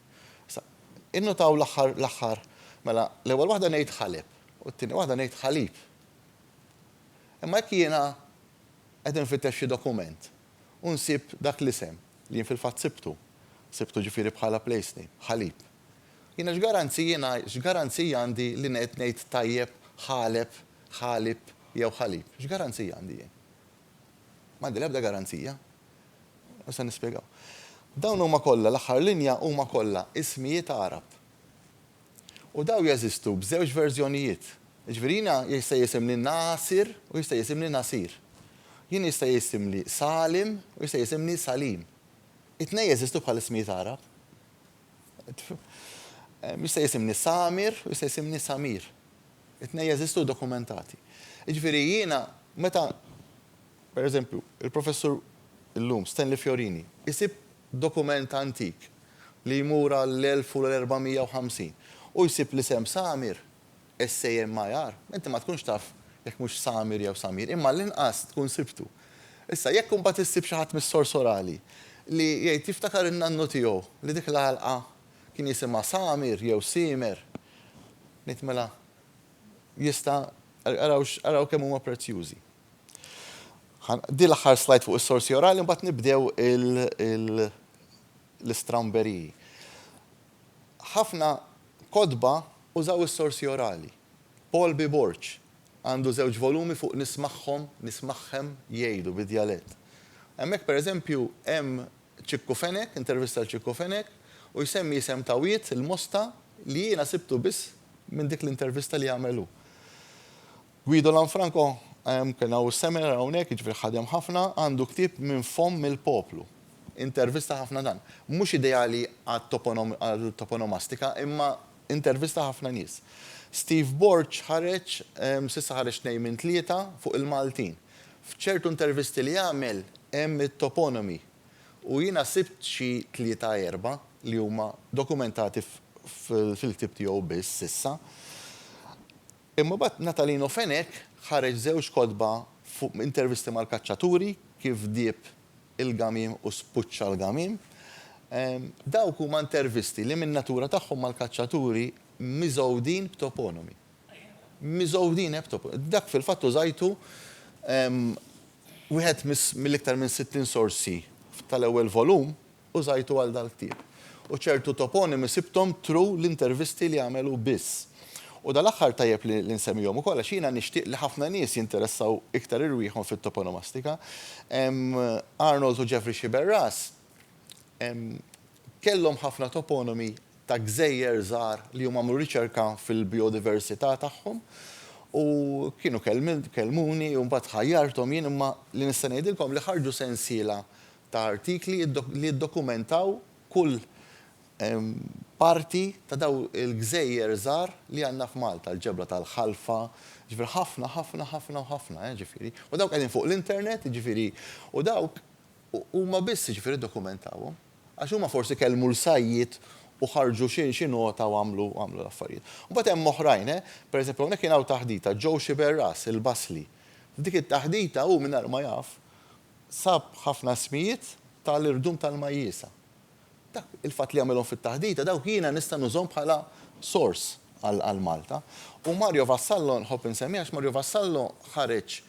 Issa, innotaw l-aħħar, l-aħħar, mela l-ewwel waħda ngħid ħaleb u t-tieni waħda ngħid ħalib. Imma jekk jiena qed infittex xi dokument U nsib dak l-isem li jien fil-fatt sibtu. Sibtu ġifieri bħala place-name, Ħalib. Jiena x'garanzijina, x'garanzija għandi li qed ngħid tajjeb Ħaleb, Ħalib jew Ħalib? X'garanzija għandi jien? M'għandi l-ebda garanzija. U se nispjegaw. Dawn huma kollha, l-aħħar linja, huma kollha ismijiet Għarab. U dawn jeżistu b'żewġ verżjonijiet. Jiġifieri jiena jista' jisimli Nasir u jista' jisimli Nasir. Jien jista' jisimli Salim u jista' jisimli Salim. It-tnejn jeżistu bħala ismijiet Għarab. Jista' jisimni Samir u jista' jisimni Samir. It-tnejn jeżistu dokumentati. Jiġifieri jiena meta, pereżempju, il-Professur illum, Stanley Fiorini, isib dokument antik li jmur għall-1450 u jsib l-isem Samir, SAMIR, inti ma tkunx taf jekk mhux Samir jew Samir, imma għall-inqas tkun sibtu. Issa, jekk imbagħad issib xi ħadd mis-sors orali li jgħid jiftakar in-nannu tiegħu li dik l-għalqa kien jisimha Samir jew Siemer, ngħid mela jista' araw araw kemm huma prezzjużi. Din l-aħħar slide fuq is-sorsi orali mbagħad nibdew l-istramberiji. Ħafna kotba użaw is-sorsi orali. Paul B. Borg għandu żewġ volumi fuq Nismagħhom, Nismagħhem jgħidu bid-djalett. Hemmhekk pereżempju hemm Ċikku Fenech, intervista għal Ċikku Fenech, u jsemmi isem ta' wied, il-Mosta, li jiena sibtu biss minn dik l-intervista li għamel hu. Guido Lanfranco, Kien hawn seminar hawnhekk, jiġifieri ħadem ħafna, għandu ktieb Minn Fomm il-Poplu. Intervista ħafna dan. Mhux ideali għat-toponomastika imma intervista ħafna nies. Steve Borg ħareġ, s'issa ħareġ tnejn minn tlieta, fuq il-Maltin. F'ċertu intervisti li għamel hemm it-toponomi u jiena sibt xi tlieta erba' li huma dokumentati fil-ktieb tiegħu biss s'issa. Imma mbagħad Natalino Fenech ħareġ żewġ kotba fuq intervisti mal-kaċċaturi, kif dieb il-gamiem u spuċċa l-gamiem. Dawk huma intervisti li min-natura tagħhom mal-kaċċaturi miżgħudin b'toponimi. Miżgħudin b'toponimi. Dak fil-fatt użajtu wieħed mill-iktar minn 60 sorsi tal-ewwel volum użajtu għal dal-ktieb. U ċertu toponimi sibthom through l-intervisti li għamel hu biss. U dal-aħħar tajjeb li li nsemmihom ukoll għax jiena nixtieq li ħafna nies jinteressaw iktar irwieħhom fit-toponomastika. Arnold u Jeffrey Sciberras kellhom ħafna toponimi ta' gżejjer żgħar li huma għamlu riċerka fil-bijodiversità tagħhom u kienu kellmuni u mbagħad ħajjarthom jien imma li nista' ngħidilkom li ħarġu sensiela ta' artikli li jiddokumentaw kull parti ta' dawn il-gżejjer żgħar li għandna f'Malta, l-ġebla tal-Ħalfa, jiġifieri ħafna, ħafna, ħafna u ħafna, jiġifieri. U dawk qegħdin fuq l-internet, jiġifieri, u dawk huma biss, jiġifieri, ddokumentawhom. Għax huma forsi kellmu l-sajjied u ħarġu xi nota u għamlu l-affarijiet. Mbagħad hemm oħrajn, pereżempju hawnhekk kien hawn taħdita, Joe Sciberras, il-Basli. F'dik it-taħdita hu mingħajr ma jaf, sab ħafna ismijiet ta' l-irdum tal-majjisa. Dak il-fatt li għamilhom fit-taħdita, dawk jiena nista' nużhom bħala sors għal Malta. U Mario Vassallo, nħobb insemmih għax Mario Vassallo ħareġ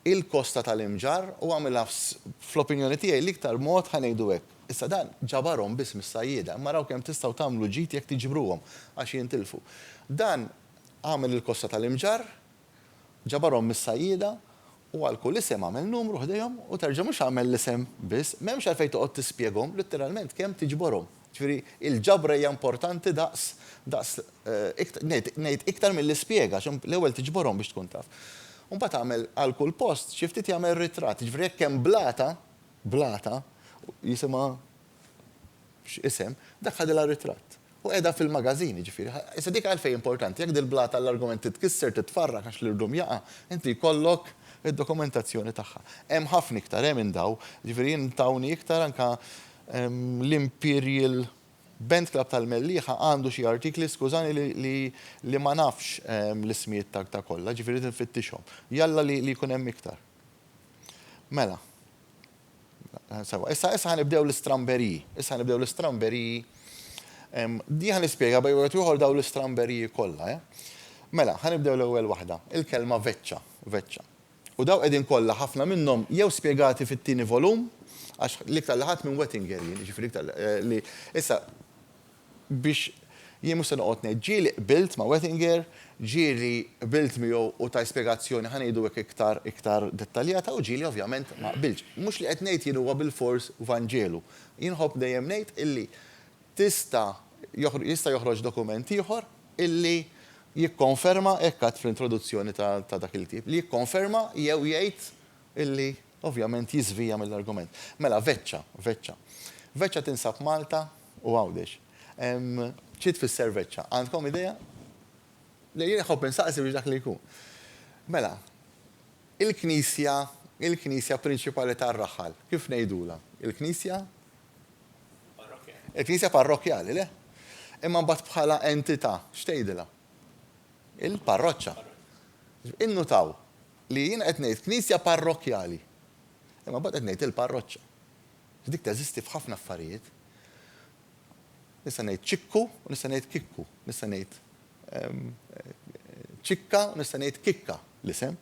il-kosta ta' l-imġarr u għamilha fl-opinjoni tiegħi l-iktar mod, ħa ngħidu hekk. Issa dan ġabarhom biss mis-sajjieda, imma araw kemm tistgħu tagħmlu ġid jekk tiġbruhom, għax jintilfu. Dan għamel il-kosta ta' l-imġarr Ġabarhom mis-sajjieda, u għal kull isem għamel numru ħdejhom u terġa' mhux għamel l-isem biss. M'hemmx għalfejn toqgħod tispjegahom litteralment kemm tiġborhom. Ġifieri, il-ġabra hija importanti daqs, daqs, ngħid, ngħid iktar milli spjega, għax l-ewwel tiġborhom biex tkun taf. U mbagħad agħmel għal kull post xi ftit jagħmel ritratt. Jiġifieri jekk hemm blata, blata, jisimha x'isem, dak ħadilha ritratt. U qiegħda fil-magazin, jiġifieri. Issa dik għalfejn hi importanti? Jekk dil-blata għall-argument titkisser, titfarrak għax l-irdum jaqa', inti jkollok id-dokumentazzjoni tagħha. Hemm ħafna iktar, eh, minn dawn. Jiġifieri jien tawni iktar anke l-Imperial Band Club tal-Mellieħa għandu xi artikli, skużani li ma nafx l-ismijiet ta' kollha, jiġifieri rrid infittixhom. Jalla li jkun hemm iktar. Mela. Sewa, issa issa ħanibdew l-istramberiji. Issa ħanibdew l-istramberiji. Di ħanispjega bej wieħed ieħor daw l-istramberiji kollha, eh? Mela, ħanibdew l-ewwel waħda, il-kelma veċċa, veċċa. U daw qegħdin kollha ħafna minnhom jew spjegati fit-tieni volum, għax l-iktar li ħadt minn Wettinger jien, jiġifieri l-iktar li. Issa, biex jien mhux se noqgħod ngħid, ġieli qbilt ma' Wettinger, ġieli qbilt miegħu u ta spjegazzjoni, ħa ngħidu hekk iktar iktar dettaljata, u ġieli ovvjament ma qbiltx. Mhux li qed ngħid jien huwa bilfors vanġelu. Jien nħobb dejjem ngħid illi tista' jista' joħroġ dokument ieħor illi jikkonferma, hekk għadt fl-introduzzjoni ta' dak il-ktieb, li jikkonferma jew jgħid Illi, ovvjament, jiżvija mill-argument. Mela, veċċa, veċċa. Veċċa tinsab Malta u Għawdex. Xi tfisser veċċa? Għandkom idea? Le, jien iħobb insaqsi biex dak li jkun. Mela, il-knisja, il-knisja prinċipali tar-raħal, kif ngħidulha? Il-knisja? Il-knisja parrokjali, le? Imma mbagħad bħala entità, x'tgħidilha? Il-parroċċa. Innutaw, li jiena qed ngħid knisja parrokkjali, imma mbagħad qed ngħid il-parroċċa. Għax dik teżisti f'ħafna affarijiet. Nista' ngħid ċikku u nista' ngħid kikku, nista' ngħid ċikka u nista' ngħid kikka l-isem.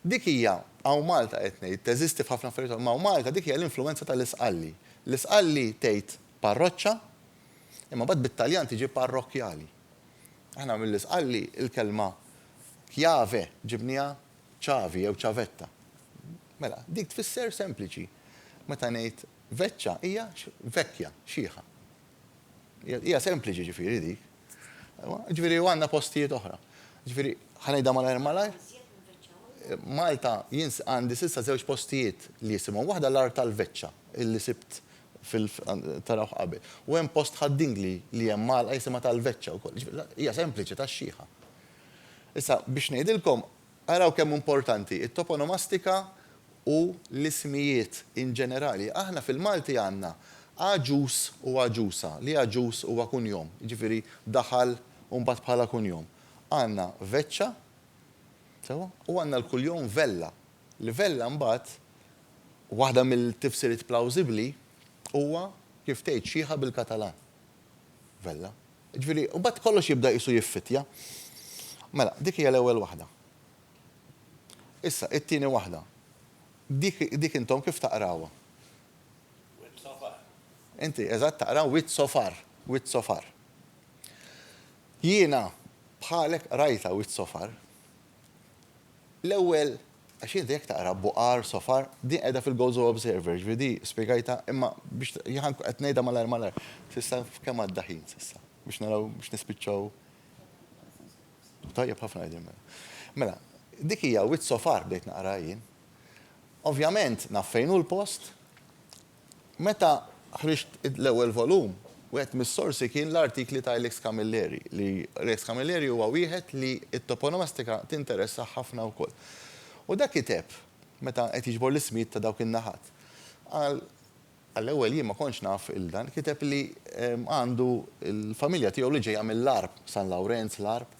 Dik hija hawn Malta qed ngħid teżisti f'ħafna affarijiet, imma hawn Malta dik hija l-influwenza tal-Isqalli. L-Isqalli tgħid parroċċa, imma mbagħad bit-Taljan tiġi parrokkjali. Aħna mill-Isqalli l-kelma Chiave ġibniha ċavi jew ċavetta. Mela, dik tfisser sempliċi. Meta ngħid veċċa hija vecchia, xiħa. Hija sempliċi ġifieri dik. Ġifieri u għandna postijiet oħra. Ġifieri ħa ngħidha malajr malajr. Malta jien għandi s'issa żewġ postijiet li jisimhom waħda l-Art tal-Veċċa illi sibt Tarawh qabel. U hemm post ħad-din li li hemm għalqa jisimha tal-veċċa wkoll. Jiġifieri, hija sempliċi tax-xieħa. Issa, biex ngħidilkom, araw kemm hu importanti t-toponomastika u l-ismijiet in ġenerali. Aħna fil-Malti għandna għaġuż u għaġuża, li għaġuż huwa kunjom, jiġifieri daħal u mbagħad bħala kunjom. Għandna veċċa, sewwa, u għandna l-kuljom vella. Livella mbagħad, waħda mill-tifsiriet plawżibbli, huwa kif tgħid xiħa bil-Katalan. Vella. Jiġifieri, u mbagħad kollox jibda qisu jiffittja. Mela, dik hija l-ewwel waħda. Issa, it-tieni waħda. Dik, dik intom kif taqrawha? Wied Sofar. Inti, eżatt, taqra Wied Sofar. Wied Sofar. Jiena, bħalek, qrajtha Wied Sofar. L-ewwel, għax inti jekk taqra Buqar, Sofar, din qiegħda fil-Gozo Observer, ġifieri di spjegajtha, imma biex qed ngħidha malajr malajr. S'issa kemm għadda ħin s'issa? Biex naraw biex nispiċċaw. Tajjeb ħafna qegħdin mela. Mela, dik hija wied Sofar bdejt naqraha jien. Ovvjament naf fejn hu l-post, Meta ħriġt l-ewwel volum, wieħed mis-sorsi kien l-artikli ta' Ilex Camilleri, li Ilex Camilleri huwa wieħed li t-toponomastika tinteressah ħafna wkoll. U dak kiteb, meta qed jiġbor l-ismijiet ta' dawk in-naħat, qal, għall-ewwel jien ma kontx naf il dan, kiteb li għandu l-familja tiegħu li ġejja mill-Għarb, San Lawrenz, l-Għarb,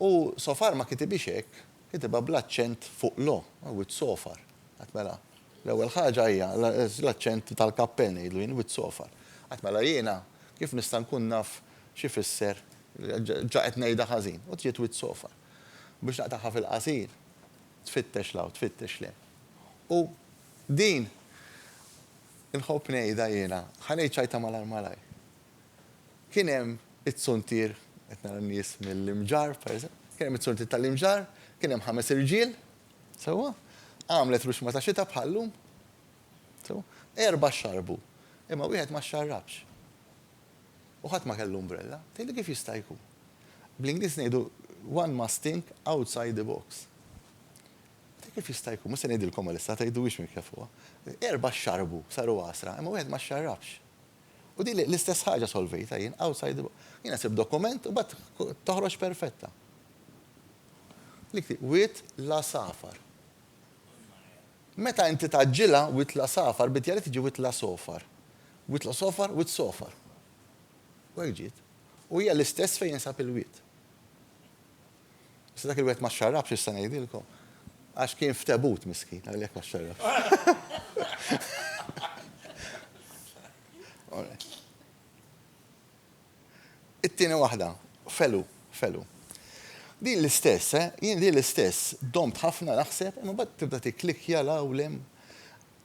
u so far ma kitibhiex hekk, kitibha bl-aċċent fuq l-o, with so far, qed mela. L-ewwel ħaġa hija l-aċċent tal-kappell ngħidlu jien, wit-sofar. Qatt mela jiena kif nista' nkun naf x'ifisser, ġa qed ngħidha ħażin, u trid wit-sofar. Biex naqtagħha fil-qasir, tfittex 'l hawn, tfittex 'l hemm. U din inħobb ngħidha jiena, ħa ngħid xi ħaġa malajr malajr. Kien hemm it-suntier, qed nara n-nies mill-Imġarr, pereżempju, kien hemm it-suntier tal-Imġarr, kien hemm ħames irġiel, Sewwa? Għamlet ruxma ta' xita bħal-lum. Sewwa? Erbgħa xxarbu, imma wieħed ma xxarrabx. U ħadd ma kellu umbrella. Tgħidli kif jista' jkun? Bl-Ingliż ngħidu one must think outside the box. Tgħidli kif jista' jkun? Mhux se ngħidilkom għalissa, tgħiduhiex minn kefuha. Erbgħa xxarbu, saru għasra, imma wieħed ma xxarrabx. U din l-istess ħaġa solvejtha jien, outside the box. Jiena sibt dokument u mbagħad toħroġ perfetta. Wied l-għasafar. Meta inti tgħaġġilha, wied l-għasafar, bid-djali tiġi wied l-għasofar. Wied l-għasofar, wied sofar. U hekk ġiet. U hija l-istess fejn jinsab il-wied. Issa dak il-wied ma xxarrabx x'issa ngħidilkom. Għax kien f'tebut miskin, għalhekk ma xxarrabx. It-tieni waħda, Felu, Felu. Din l-istess, eh, jien din l-istess, domt ħafna naħseb, imma mbagħad tibda tikklikkja 'l hawn 'l hemm.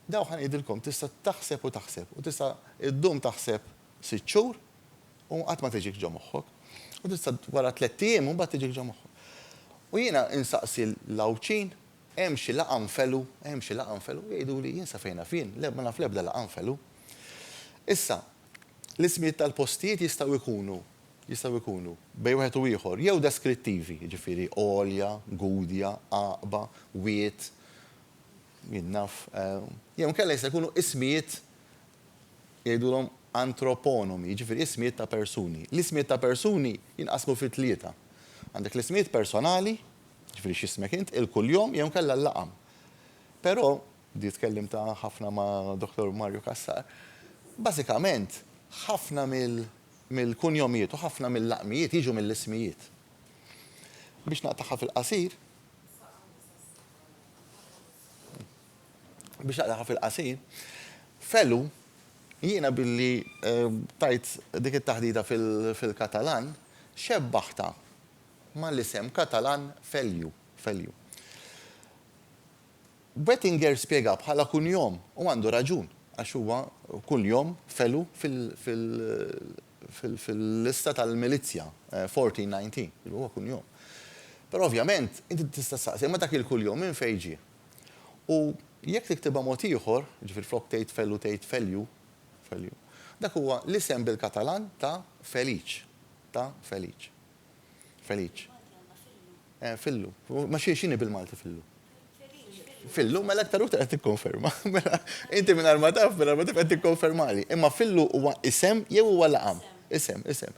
Dawn ħa ngħidilkom, tista' taħseb u taħseb, u tista' ddum taħseb sitt xhur u qatt ma tiġik ġo moħħok, u tista' wara tlett ijiem u mbagħad tiġik ġo moħħok. U jiena insaqsi 'l Għawdxin, Hemm xi laqgħa nfelu? Hemm xi laqgħa nfelu? Jgħiduli, jien sa fejn naf jien, le, ma naf l-ebda laqgħa nfelu. Issa, L-ismijiet tal-postijiet jistgħu jkunu, jistgħu jkunu, bejn wieħed u ieħor, jew deskrittivi, jiġifieri, għolja, Gudja, għaqba, wied, jien naf, jew inkella jistgħu jkunu ismijiet, jgħidulhom antroponomi, jiġifieri ismijiet ta' persuni. L-ismijiet ta' persuni jinqasmu fi tlieta. Għandek l-ismijiet personali, jiġifieri x'ismek int, il-kuljom jew inkella l-laqam. Però, Bdiet tkellimt ħafna ma' Dottor Mario Cassar. Bażikament, ħafna mill-kunjomijiet u ħafna mill-laqmijiet jiġu mill-ismijiet. Biex naqtagħha fil-qasir, biex naqtagħha fil-qasir, f'Ellu, jiena billi tajt dik it-taħdita fil-Katalan, xebbaħtha mal-isem Katalan f'Elju, f'Elju. Boettinger spjegah bħala kuljom, u għandu raġun, għax huwa kuljom felu fil-lista tal-milizzja 1419, huwa kuljom. Però ovvjament, inti tista' ssaqsi, imma dak il-kuljom minn fejn ġie? U jekk tiktibha mod ieħor, jiġifieri flok tgħid felu tgħid feliu, Feliu, dak huwa l-isem bil-Katalan ta' Feliċ, ta' Feliċ. Felic. Eh, fillu. Ma xie xini bil-Malti fillu? Fillu, mela aktar uħta għed t-konferma. Mela, inti minn arma taf, minn arma taf għed t-konfermali. Imma fillu huwa isem, jew huwa laqam. Isem, isem.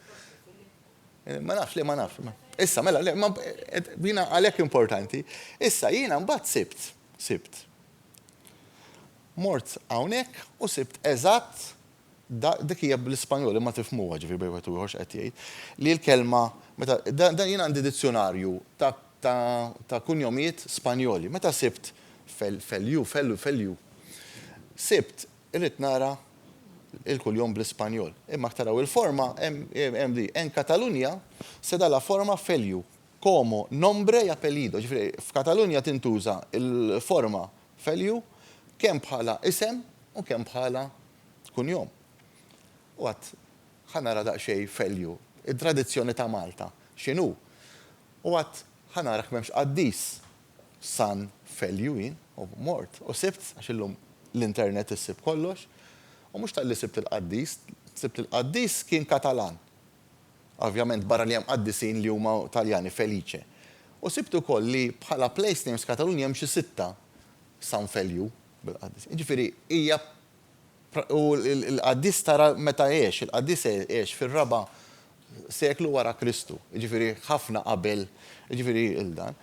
Eh, ma nafx, li ma nafx. Issa, mela, li, ma, eh, bina għalek importanti. Issa, jina mbatt sibt, sibt. Mort għawnek u sibt eżatt Dik hija bl-Ispanjol, imma tifhmuha, ġifieri bejn wieħed u ieħor x'qed jgħid, li l-kelma, meta, dan jien għandi dizzjunarju ta' ta' ta' kunjomijiet Spanjoli, meta sibt Fel, Feliu, Felu, Feliu, sibt, irrid nara l-kuljom bl-Ispanjol. Imma jekk taraw il-forma, hemm, hemm di, en Catalunya se da la forma Feliu, como nombre y apellido, ġifieri f'Katalunja tintuża l-forma Value, kemm bħala isem u kemm bħala kunjom. U għad ħa nara daqsxejn value, it-tradizzjoni ta' Malta x'inhu. U għad ħa nara jekk m'hemmx qaddis San Value jien, u mort u sibt, għax illum l-internet issib kollox. U mhux talli sibt il-qaddis, sibt li l-qaddis kien Katalan. Ovvjament barra li hemm qaddisin li huma Taljani, Felice. U sibt ukoll li bħala place names Katalunji hemm xi sitta San Feliu bil-qaddis. Jiġifieri hija u l-qaddis tara meta għex, il-qaddis għex fir-raba' seklu wara Kristu, jiġifieri ħafna qabel jiġifieri il-dan.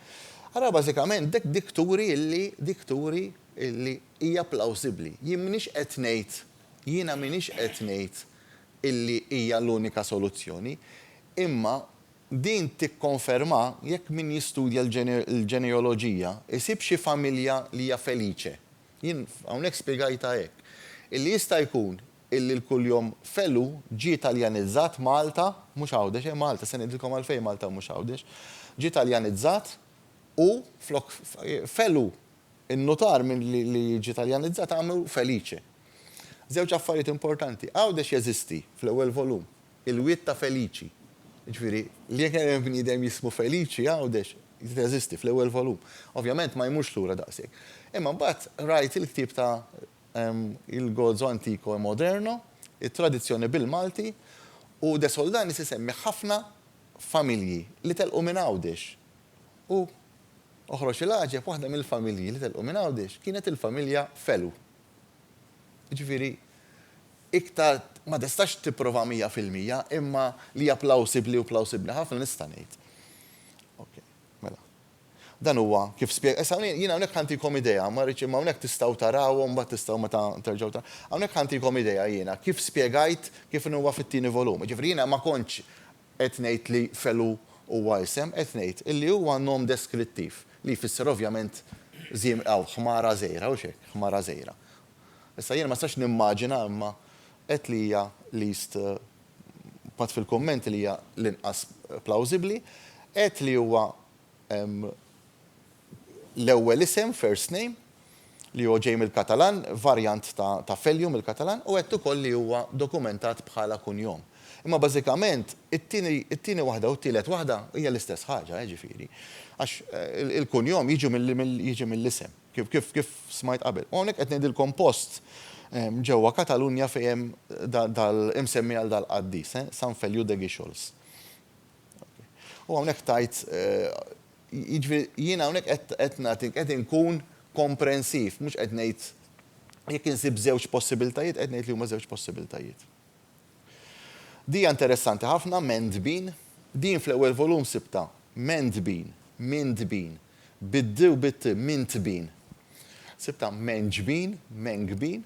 Ara bażikament dik dik turi illi dik turi illi hija plawsibbli. Jien m'iniex qed ngħid jiena m'iniex qed ngħid illi hija l-unika soluzzjoni, imma din tikkonferma jekk min jistudja l-ġeneoloġija jsib xi familja li hija felice. Jien hawnhekk spjegajtha hekk, illi jista' jkun illi l-kuljom Felu ġie Taljanizzat, Malta, mhux Għawdex, eh, Malta, se ngħidilkom għalfejn Malta u mhux Għawdex, ġie Taljanizzat u flok Felu In-nutar minn li jiġi Taljanizzat għamlu Felice. Żewġ affarijiet importanti, Għawdex jeżisti, fl-ewwel volum, il-wied ta' Felici. Jiġifieri, li jekk hemm bniedem jismu Felici, Għawdex teżisti, fl-ewwel volum. Ovvjament ma jmurx lura daqshekk. Imma mbagħad rajt il-ktieb ta' Il Gozo Antico e Moderno, it-tradizzjoni bil-Malti, u De Soldanis isemmi ħafna familji li telqu minn Għawdex u Oħroġ il-għaġeb, waħda mill-familji li telqu minn Għawdex kienet il-familja Felu. Jiġifieri iktar ma tistax tipprova mija fil-mija imma li hija plawsibbli u plawsibbli ħafna nista' ngħid. Ok, mela. Dan huwa kif spjega. Issa jien hawnhekk ħantikom idea, ma rridx imma hawnhekk tistgħu tarawhom mbagħad tistgħu meta terġgħu taraw. Hawnhekk ħantikom idea jiena kif spjegajt kif inhu huwa fit-tieni volum. Jiġifieri jiena ma kontx Qed ngħid li Felu huwa isem? Qed ngħid illi huwa nom deskrittiv, li jfisser ovvjament żiem aw ħmara żgħira, hux hekk? Ħmara żgħira. Issa jiena ma nistax nimmaġina imma qed li hija least pat fil-kummenti li hija l-inqas plawżibbli. Qed li huwa l-ewwel isem, first name, li huwa ġej mill-Katalan, varjant ta' ta' Feliu mill-Katalan, u għedt ukoll li huwa dokumentat bħala kunjom. Imma bażikament it-tieni it-tieni waħda u t-tielet waħda hija l-istess ħaġa, eh ġifieri. Għax il-kunjom jiġu mill mill jiġi mill-isem, kif kif kif smajt qabel. U hawnhekk qed ngħidilkom post ġewwa Katalunja fejn hemm da dal imsemmi għal dal-qaddis, eh, San Feliu de Guíxols. U hawnhekk tgħid Jiġifieri jiena hawnhekk qed qed nagħti qed inkun komprensiv, mhux qed ngħid jekk insib żewġ possibiltajiet, qed ngħid li huma żewġ possibiltajiet. Dija interessanti ħafna, Mend Bean. Din fl-ewwel volum sibtha, Mend Bean, Mind Bean, bid-d u bit-t, Mint Bean. Sibtha Menj Bean, Meng Bean.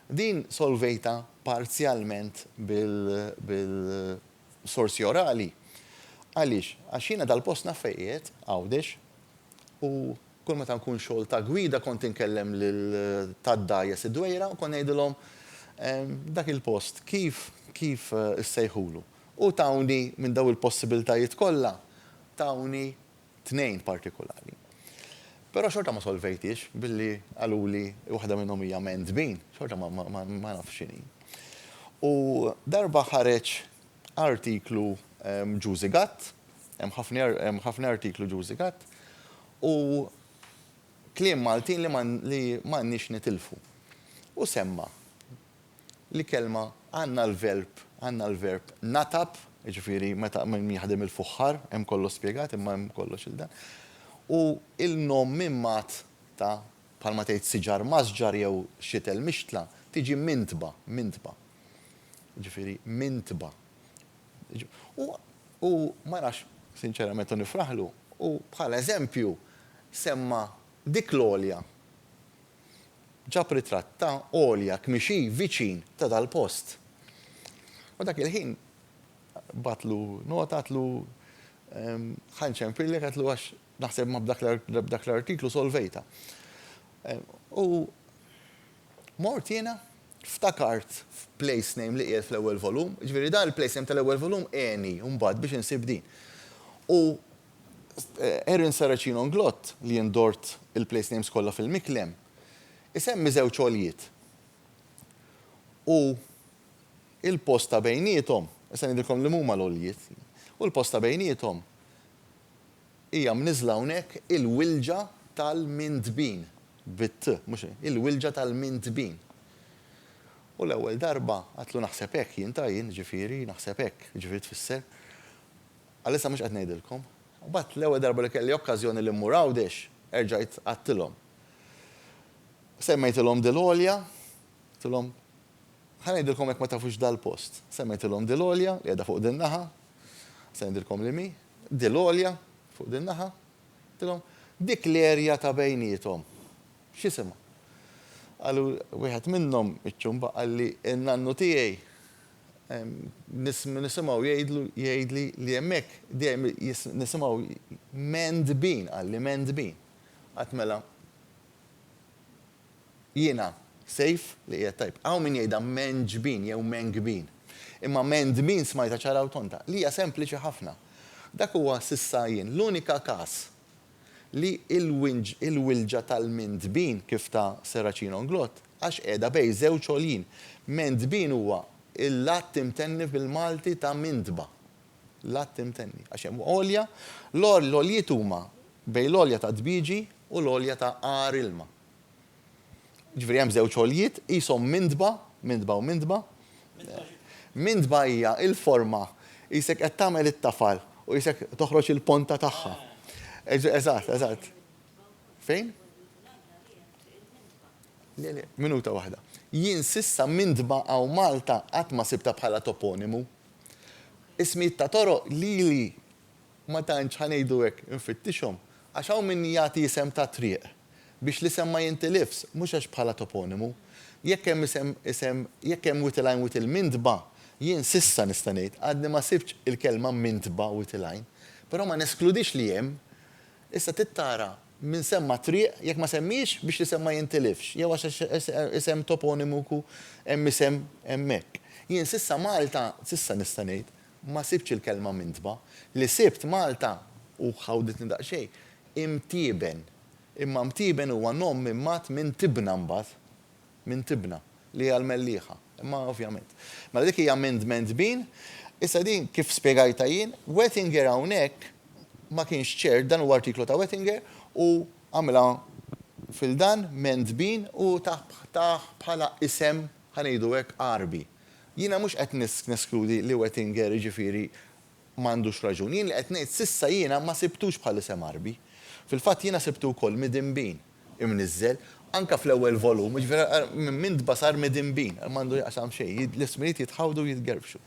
Din solvejtha parzjalment bil, bil, sorsi orali. Għaliex? Għax jiena dal-post naf fejn qiegħed, Għawdex, u kull meta nkun xogħol ta' gwida kont inkellem lil ta' dgħajjes id-dwejra u kont ngħidilhom dak il-post kif kif issejħulu. U tawni minn dawn il-possibiltajiet kollha tawni tnejn partikulari. Però xorta ma solvejthiex billi qaluli waħda minnhom hija men's bean, xorta ma nafx x'inhi. U darba ħareġ artiklu Juicy Gut, hemm ħafna artiklu Juicy Gut, u kliem Maltin li m'għandniex nitilfu. U semma' l-kelma għandna l-verb għandna l-verb natab, jiġifieri meta min jaħdem il-fuħħar, hemm kollox spjegat imma hemm kollox il-dan. U il-nom mimgħat ta' bħalma tgħid siġar masġar jew xitel mixtla, tiġi mintba, mintba. Jiġifieri mintba. U u ma nafx sinċerament u nifraħlu, hu bħala eżempju semma dik l-għolja ġab ritratt ta' Olja tmixi viċin ta' dal-post. U dak il-ħin bagħatlu nota għatlu ħa nċempillek għatlu għax naħseb ma b'dak l-artiklu solvejtha. U mort jiena ftakart f'place name li qiegħed fl-ewwel volum, jiġifieri dan il-place name tal-ewwel volum għeni mbagħad biex insib din. U Erin Saracino Nglott, li indort il-place names kollha fil-miklem, isemmi żewġ għoljiet u l-post ta' bejniethom, issa ngħidilkom liemhuma l-għoljiet, u l-post ta' bejniethom hija mniżżla hawnhekk il-Wilġa tal-Mintbin, bit-t, mhux il, il-Wilġa tal-Mintbin. U l-ewwel darba, għadtlu naħseb hekk jien ta' jien, jiġifieri, naħseb hekk, jiġifieri tfisser, Għalissa mhux qed ngħidilkom. Imbagħad l-ewwel darba li kelli okkażjoni li mmur Għawdex, erġajt għadtilhom. Semmejtilhom Dil Għolja, għidtilhom, Ħa ngħidilkom jekk ma tafux dal-post. Semmejtilhom Dil Għolja li qiegħda fuq din-naħa, se ngħidilkom li mhi, Dil Għolja fuq din-naħa, għidtilhom, dik l-erja ta' bejniethom, x'isimha? Qalu, wieħed minnhom, iċ-Ċumba, qalli, in-nannu tiegħi Nisimgħu jgħidlu, jgħidli li hemmhekk dejjem nisimgħu mend bin, qalli mend bin. Għad mela jiena Sejf li qiegħed tajjeb. Hawn min jgħidha menġ bin jew menk bin. Imma mend bin smajtha ċara u tonta, li hija sempliċi ħafna. Dak huwa s'issa jien l-unika każ li il-wilġa tal-mindbin kif ta Serracino Nglott għax qiegħda bejn żewġ għoljin. Mendbin huwa l-att imtenni bil-Malti ta' mindba. L-att imtenni. Għax hemm għolja, l-għoljiet huma bejn l-għolja ta' dbieġi u l-għolja ta' għar ilma. Jiġifieri hemm żewġ għoljiet qishom mindba, mindba u mindba. Mindba hija l-forma qisek qed tagħmel it-tafal u qisek toħroġ il-ponta tagħha. Eżatt, eżatt. Fejn? Le, le, minuta waħda. Jien s'issa Mindba hawn Malta qatt ma sibtha bħala toponimu. Ismijiet ta' toroq lili Ma tantx, ħa ngħidu hekk, infittixhom, għax hawn min jagħti isem ta' triq biex l-isem ma jintilifs, mhux għax bħala toponimu. Jekk hemm isem, isem, jekk hemm Witilgħajn Witilmintba, jien s'issa nista' ngħid, għadni ma sibtx il-kelma Mintba Witilgħajn. Però ma neskludix li hemm. Issa trid tara min semma triq, jekk ma semmiex, biex l-isem ma jintilifx, jew għax isem toponimu ku hemm isem hemmhekk. Jien s'issa Malta, s'issa nista' ngħid, Ma sibtx il-kelma mintba. Li sibt Malta, u ħawditni daqsxejn, imtieben. Imma mtieben huwa nom mimgħat minn tibna mbagħad. Minn tibna, li hija l-mellieħa. Imma ovvjament. Mela dik hija minn dmen tbin. Issa din, kif spjegajtha jien, Wettinger hawnhekk ma kienx ċert, dan huwa artiklu ta' Wettinger, u għamilha fil-dan, men tbin, u tah bħala isem, ħa ngħidu hekk, Għarbi. Jiena mhux qed neskludi li Wettinger, jiġifieri, ma għandux raġun. Jien li qed ngħid s'issa jiena ma sibtux bħal isem Għarbi. Fil-fatt jiena sibtu wkoll Midinbin imniżżel, anke fl-ewwel volum, jiġifieri ara minn Mindba sar Midinbin, m'għandu x'jaqsam xejn, l-ismijiet jitħawdu u jitgerbxu.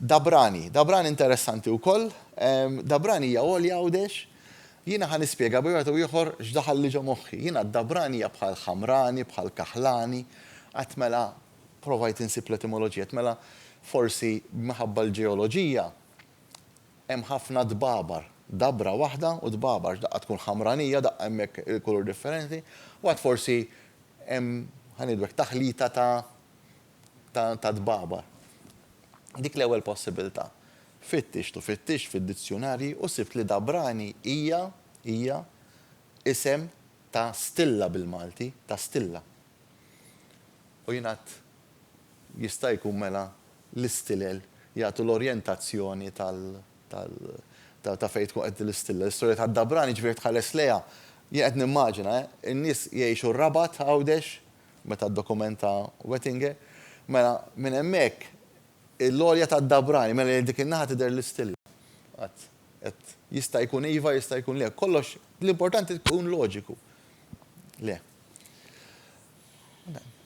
Dabrani, Dabrani interessanti wkoll. Dabrani hija Għolja Għawdex. Jiena ħa nispjega b'xi mod jew ieħor x'daħalli ġo moħħi. Jiena Dabrani hija bħal Ħamrani, bħal Kaħlani. Qatt mela provajt insib l-etimoloġija. Qatt mela forsi minħabba l-ġeoloġija hemm ħafna dbabar. Dabra waħda u dbabar. X'daqqa tkun Ħamranija, daqqa hemmhekk il-kulur differenti. U għad forsi hemm, ħa ngħidu hekk, taħlita ta' ta' tbabar. Dik l-ewwel possibilità. Fittixt u fittixt fid-dizzjunarji u sibt li Dabrani hija, hija, isem ta' stilla bil-Malti, ta' stilla. U jien għedt, jista' jkun mela l-istilel jagħtu l-orjentazzjoni tal, tal, ta' fejn tkun qed l-istilla. L-istorja ta' Dabrani ġifieri tħares lejha, jien qed nimmaġina, eh, in-nies jgħixu r-Rabat, Għawdex, meta d-dokument ta' Wettinger, mela minn hemmhekk il-għolja tad-dabrani, mela lejn dik in-naħa tidher l-istilja. Qatt. Qed jista' jkun iva, jista' jkun le. Kollox, l-importanti tkun loġiku. Le.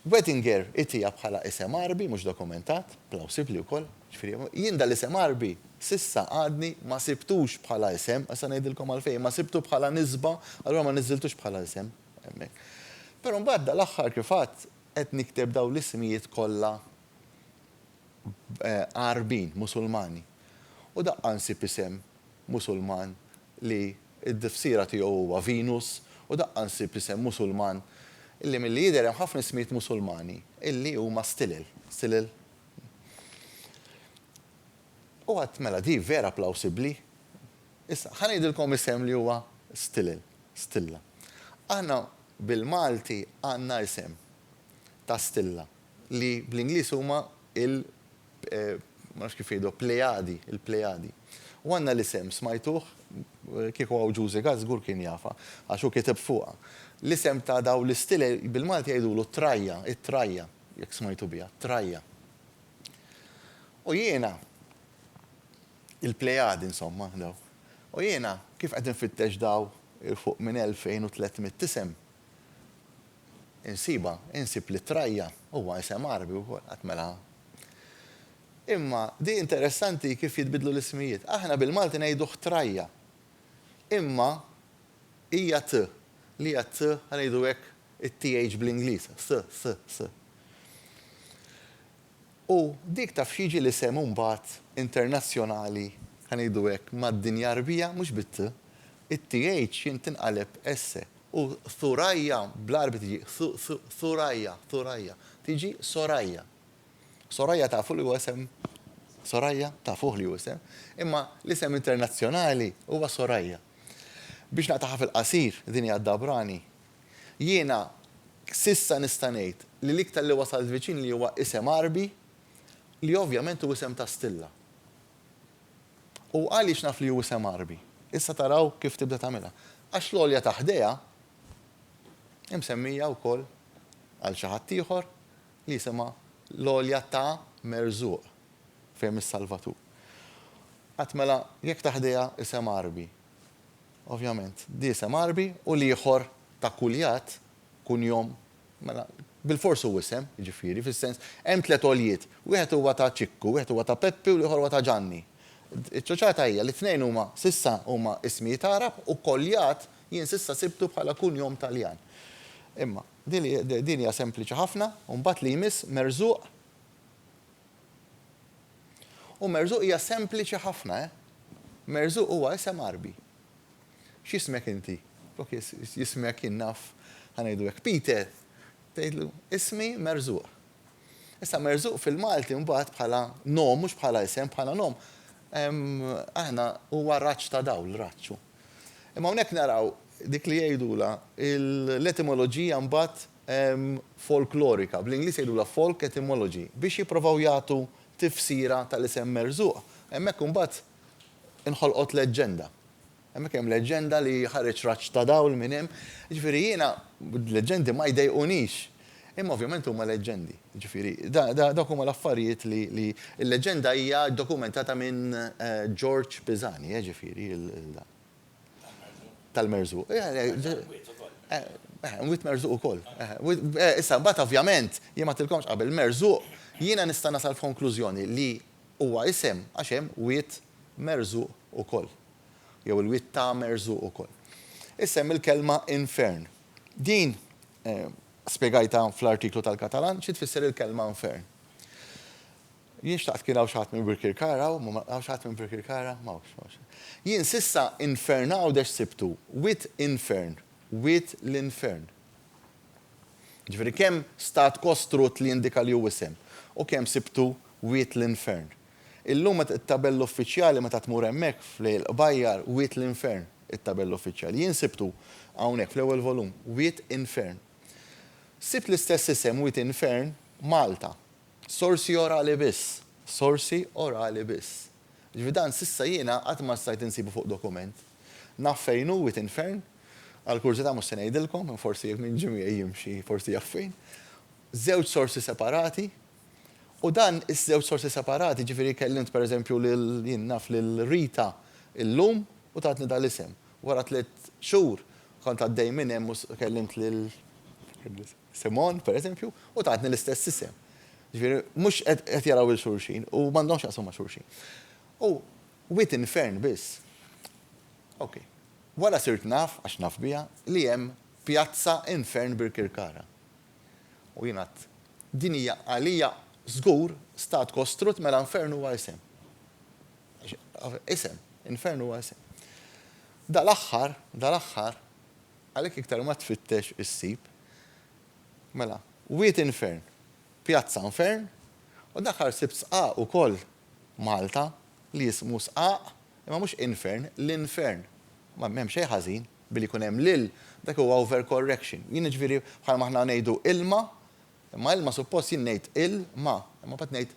Wettinger itiha bħala isem Għarbi mhux dokumentat, plawsibbli wkoll, jiġifieri jien dan l-isem Għarbi s'issa għadni ma sibtux bħala isem, issa ngħidilkom għalfejn, ma sibtu bħala nisba, allura ma niżżiltux bħala isem. Hemmhekk. Però mbagħad dal-aħħar kif għadt qed nikteb dawn l-ismijiet kollha Għarbin, Musulmani. U daqqa nsib isem Musulman li t-tifsira tiegħu huwa Venus u daqqa nsib isem Musulman li milli jidher hemm ħafna ismijiet Musulmani illi huma stilel, stilel. U għadt mela di vera plawsibbli. Issa, ħa ngħidilkom isem li huwa Stilel, Stilla. Aħna bil-Malti għandna isem ta' stilla li bl-Ingliż huma il, ma nafx kif jgħiduha, Plejadi, il-Plejadi. U għandna l-isem, smajtuh, kieku hawn Ġużi Gatt żgur kien jafha, għax hu kiteb fuqha. L-isem ta' dawn l-Stilel bil-Malti jgħidulu t-Trajja, it-Trajja, jekk smajtu biha, t-Trajja. U jiena, Il-Plejadi, insomma, daw. U jiena, kif qed infittex daw il-fuq minn 2,300 isem, insibha, insib li Traja huwa isem Għarbi wkoll, qatt mela. Imma di interessanti kif jitbiddlu l-ismijiet. Aħna bil-Malti ngħiduh Traja. Imma hija t, li hija t, ħa ngħidu hekk, it-th bl-Ingliż, th, th, th. U dik taf x'jiġi l-isem imbagħad internazzjonali, ħa ngħidu hekk, mad-dinja Għarbija mhux bit-t, it-th jien tinqaleb s, u Thuraya bl-Għarbi tiġi Thu-thu-thuraya, Thuraya, tiġi Soraya. Soraya tafu li huwa isem Soraya? Tafuh li hu isem. Imma l-isem internazzjonali huwa Soraya. Biex naqtagħha fil-qasir, din hija Dabrani, Jiena s'issa nista' ngħid li l-iktar li wasalt viċin li huwa isem Għarbi li ovvjament hu isem ta' stilla. U għaliex naf li hu isem Għarbi? Issa taraw kif tibda tagħmilha. Għax l-għolja ta' ħdejha hi msemmija wkoll għal xi ħadd ieħor li jisimha l-għolja ta' Merżuq fejn mis-Salvatur. Għad mela jekk ta' ħdejha isem Għarbi Ovvjament, d'isem Għarbi u l-ieħor ta' Kulljat, kunjom, mela, bilfors hu isem, jiġifieri, fis-sens, hemm tliet għoljiet, wieħed huwa ta' Ċikku, wieħed huwa ta' Peppi u l-ieħor huwa ta' Ġanni. Iċ-ċuċata hija li t-tnejn huma, s'issa, huma ismijiet Għarab u Kolljat jien s'issa sibtu bħala kunjom Taljan. Imma, din hija sempliċi ħafna, u mbagħad li jmiss Merżuq. U Merżuq hija sempliċi ħafna, eh? Merżuq huwa isem Għarbi. X'jismek inti? Flok jismek, jien naf, ħa ngħidu hekk, Peter, tgħidlu, Ismi Merżuq. Issa Merżuq fil-Malti mbagħad bħala nom, mhux bħala isem, bħala nom, aħna huwa raġġ ta' dawl, raġġ hu. Imma hawnhekk naraw dik li jgħidulha l-etimoloġija mbagħad, folklorika, bl-Ingliż jgħidulha folk etymology, biex jipprovaw jagħtu tifsira tal-isem merżuq. Hemmhekk imbagħad inħolqot leġġenda. Hemmhekk hemm leġġenda li ħareġ raġġ ta' dawl minn hemm. Jiġifieri jiena l-leġġendi ma jdejqunix. Imma ovvjament huma leġġendi. Jiġifieri dawk huma l-affarijiet li li l-leġġenda hija dokumentata minn George Pisani, jiġifieri l-dan. tal-merżuq. Mwiet merżuq ukoll. Issa, mbagħad ovvjament, jien m'għattilkomx qabel, merżuq, jiena nista' nasal f'konklużjoni li huwa isem għax hemm wied merżuq ukoll. Jew il-wied ta' merżuq ukoll. Issa hemm il-kelma infern. Din spjegajtha fl-artiklu tal-Katalan xi tfisser il-kelma infern. Jien xtaqt kien hawn xi ħadd minn Birkirkara hawn, ma ma, hawn xi ħadd minn Birkirkara? M'hawnx, m'hawnx. Jien s'issa infern Għawdex sibtu, wied infern, wied l-infern. Jiġifieri kemm stat kostrut li jindika li hu isem, u kemm sibtu wied l-infern. Illum meta it-tabella uffiċjali meta tmur hemmhekk f'Lejl il-Qbajjar, wied l-infern it-tabella uffiċjali. Jien sibtu hawnhekk fl-ewwel volum, wied infern. Sibt l-istess isem, wied infern, Malta. Sorsi orali biss. Sorsi orali biss. Jiġifieri dan s'issa jiena qatt ma stajt insibu fuq dokument. Naf fejn hu wied infern, għal kurżità mhux se ngħidilkom, forsi jekk min ġie miegħi jimxi forsi jaf fejn. Żewġ sorsi separati, u dan iż-żewġ sorsi separati, jiġifieri kellimt per eżempju lil, jien naf lil Rita illum u tatni dal-isem. Wara tliet xhur kont għaddej minn hemm u kellimt lil, Simon, per eżempju, u tatni l-istess isem. Ġifieri, mhux qed jaraw 'il xulxin u m'għandhomx x'jaqsmu ma' xulxin. U wied infern biss. Ok. Wara sirt naf, għax naf biha, li hemm pjazza infern Birkirkara. U jien għadt, din hija għalija żgur stat kostrutt mela infern huwa isem. Isem, infern huwa isem. Dal-aħħar, dal-aħħar, Għalhekk iktar ma tfittex issib. Mela, Wied Infern, Pjazza Nfern, u dakar sibt sqaq ukoll Malta li jismu sqaq imma mhux infern, l-infern. Ma m'hemm xejn ħażin billi jkun hemm l-il, dak huwa overcorrection. Jien jiġifieri bħalma aħna ngħidu ilma, imma ilma suppost jien ngħid il, ma, imma mbagħad ngħid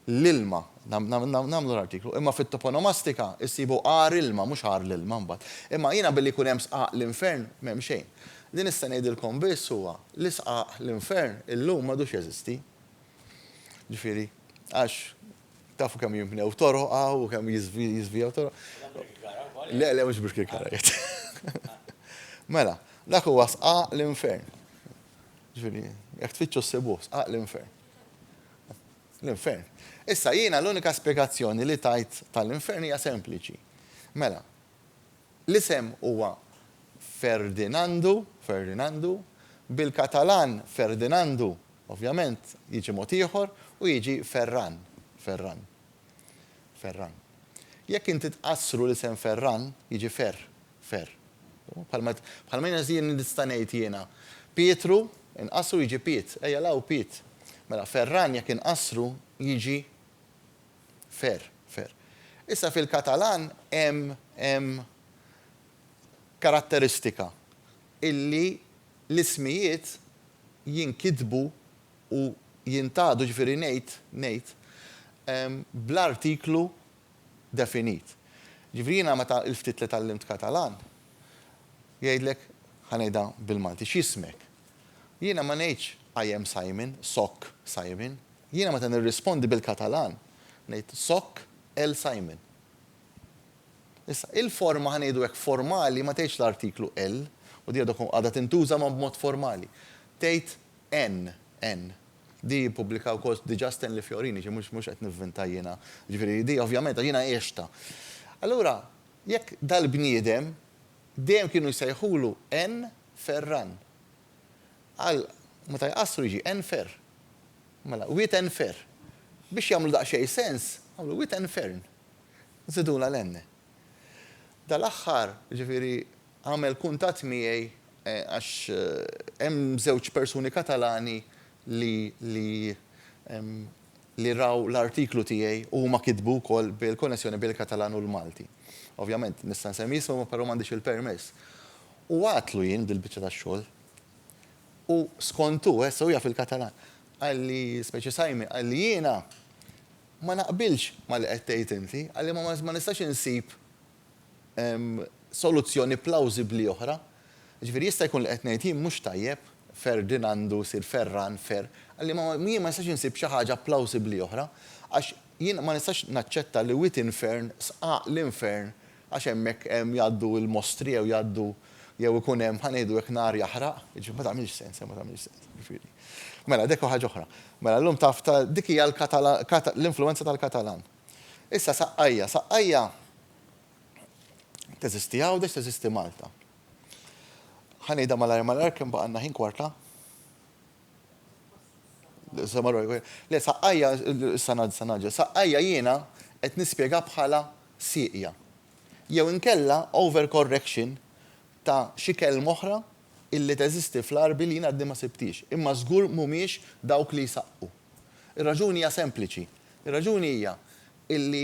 l-ilma, nagħmlu l-artiklu, imma fit-toponomastika issibu għar ilma, mhux għar l-ilma mbagħad. Imma jiena billi jkun hemm sqaq l-infern m'hemm xejn. Li nista' ngħidilkom biss huwa li sqaq l-infern illum m'għadux jeżisti. Ġifieri, għax tafu kemm jinbnew toroq hawn u kemm jiżvijaw toroq. Le, le, mhux Birkirkara jgħid. Mela, dak huwa sqaq l-infern. Ġifieri, jekk tfittxu ssibuh, sqaq l-infern. L-infern. Issa jiena l-unika spjegazzjoni li tajt tal-infern hija sempliċi. Mela, l-isem huwa Ferdinandu, Ferdinandu, bil-Katalan Ferdinandu, ovvjament, jiġi mod ieħor u jiġi Ferran, Ferran, Ferran. Jekk inti tqassru l-isem Ferran, jiġi Ferr, Ferr. Bħalma, bħalma jiena zi, nista' ngħid jiena, Pietru, inqassru jiġi Piet, ejja 'l hawn Piet. Mela, Ferran jekk inqassru jiġi Ferr, Ferr. Issa fil-Katalan hemm, hemm karatteristika illi l-ismijiet jinkitbu u jintgħadu, jiġifieri ngħid, ngħid, bl-artiklu definit. Jiġifieri jiena meta l-ftit li tgħallimt Katalan, jgħidlek, ħa ngħidha bil-Malti, x'jismek? Jiena ma ngħidx I am Simon, sóc Simon. Jiena meta nirrispondi bil-Katalan, ngħid sóc el Simon. Issa, il-forma, ħa ngħidu hekk, formali ma tgħidx l-artiklu el, u din għadha tintuża ma b'mod formali. Tgħid N, N. Di ppubblikha wkoll diġà Stanley Fiorini, ġifieri mhux mhux qed nivvinta jiena. Ġifieri di ovvjament għax jiena għixtha. Allura, jekk dal-bniedem, dejjem kienu jsejħulu N. Ferran. Għal meta jqassru jiġi N. Fer. Mela, Wiet N. Fer. Biex jagħmlu daqsxejn sens, għamlu Wiet N. Fern. Żidulha l-N. Dal-aħħar, jiġifieri, għamel kuntatt miegħi għax hemm żewġ persuni Katalani li li li raw l-artiklu tiegħi u huma kitbu wkoll bil-konnessjoni bejn il-Katalan u l-Malti. Ovvjament, nista' nsemmi ismhom però m'għandix il-permess. U għidtlu jien dil-biċċa ta' xogħol. U skont hu, issa hu jaf il-Katalan, qalli, speċi Simon, qalli jiena, Ma naqbilx ma' li qed tgħid inti, għalli ma nistax insib soluzzjoni plawżibbli oħra. Jiġifieri jista' jkun li qed ngħid jien mhux tajjeb, Ferdin għandu jsir Ferran, Fer, għalli ma jien ma nistax insib xi ħaġa plawżibbli oħra, għax jien ma nistax naċċetta li Witin Fern sqaq l-infern għax hemmhekk hemm jgħaddu l-mostri jew jgħaddu jew ikun hemm, ħa ngħidu hekk, nar jaħraq, jiġifieri ma tagħmilx sens, ma tagħmilx sens, jiġifieri. Mela, dik hu ħaġa oħra. Mela, llum taf ta' dik hija l-Katalan, l-influwenza tal-Katalan. Issa Saqqajja, Saqqajja teżisti Għawdex, teżisti Malta. Ħa ngħidha malajr malajr kemm baqa' għandna ħin kwarta? Le, Saqqajja, issa ngħaddi, issa ngħaddi, Saqqajja jiena qed nispjega bħala sieqja, jew inkella overcorrection ta' xi kelma oħra illi teżisti fl-Għarbi li jien għadni ma sibthiex, imma żgur mhumiex dawk li jsaqqu. Ir-raġuni hija sempliċi. Ir-raġuni hija illi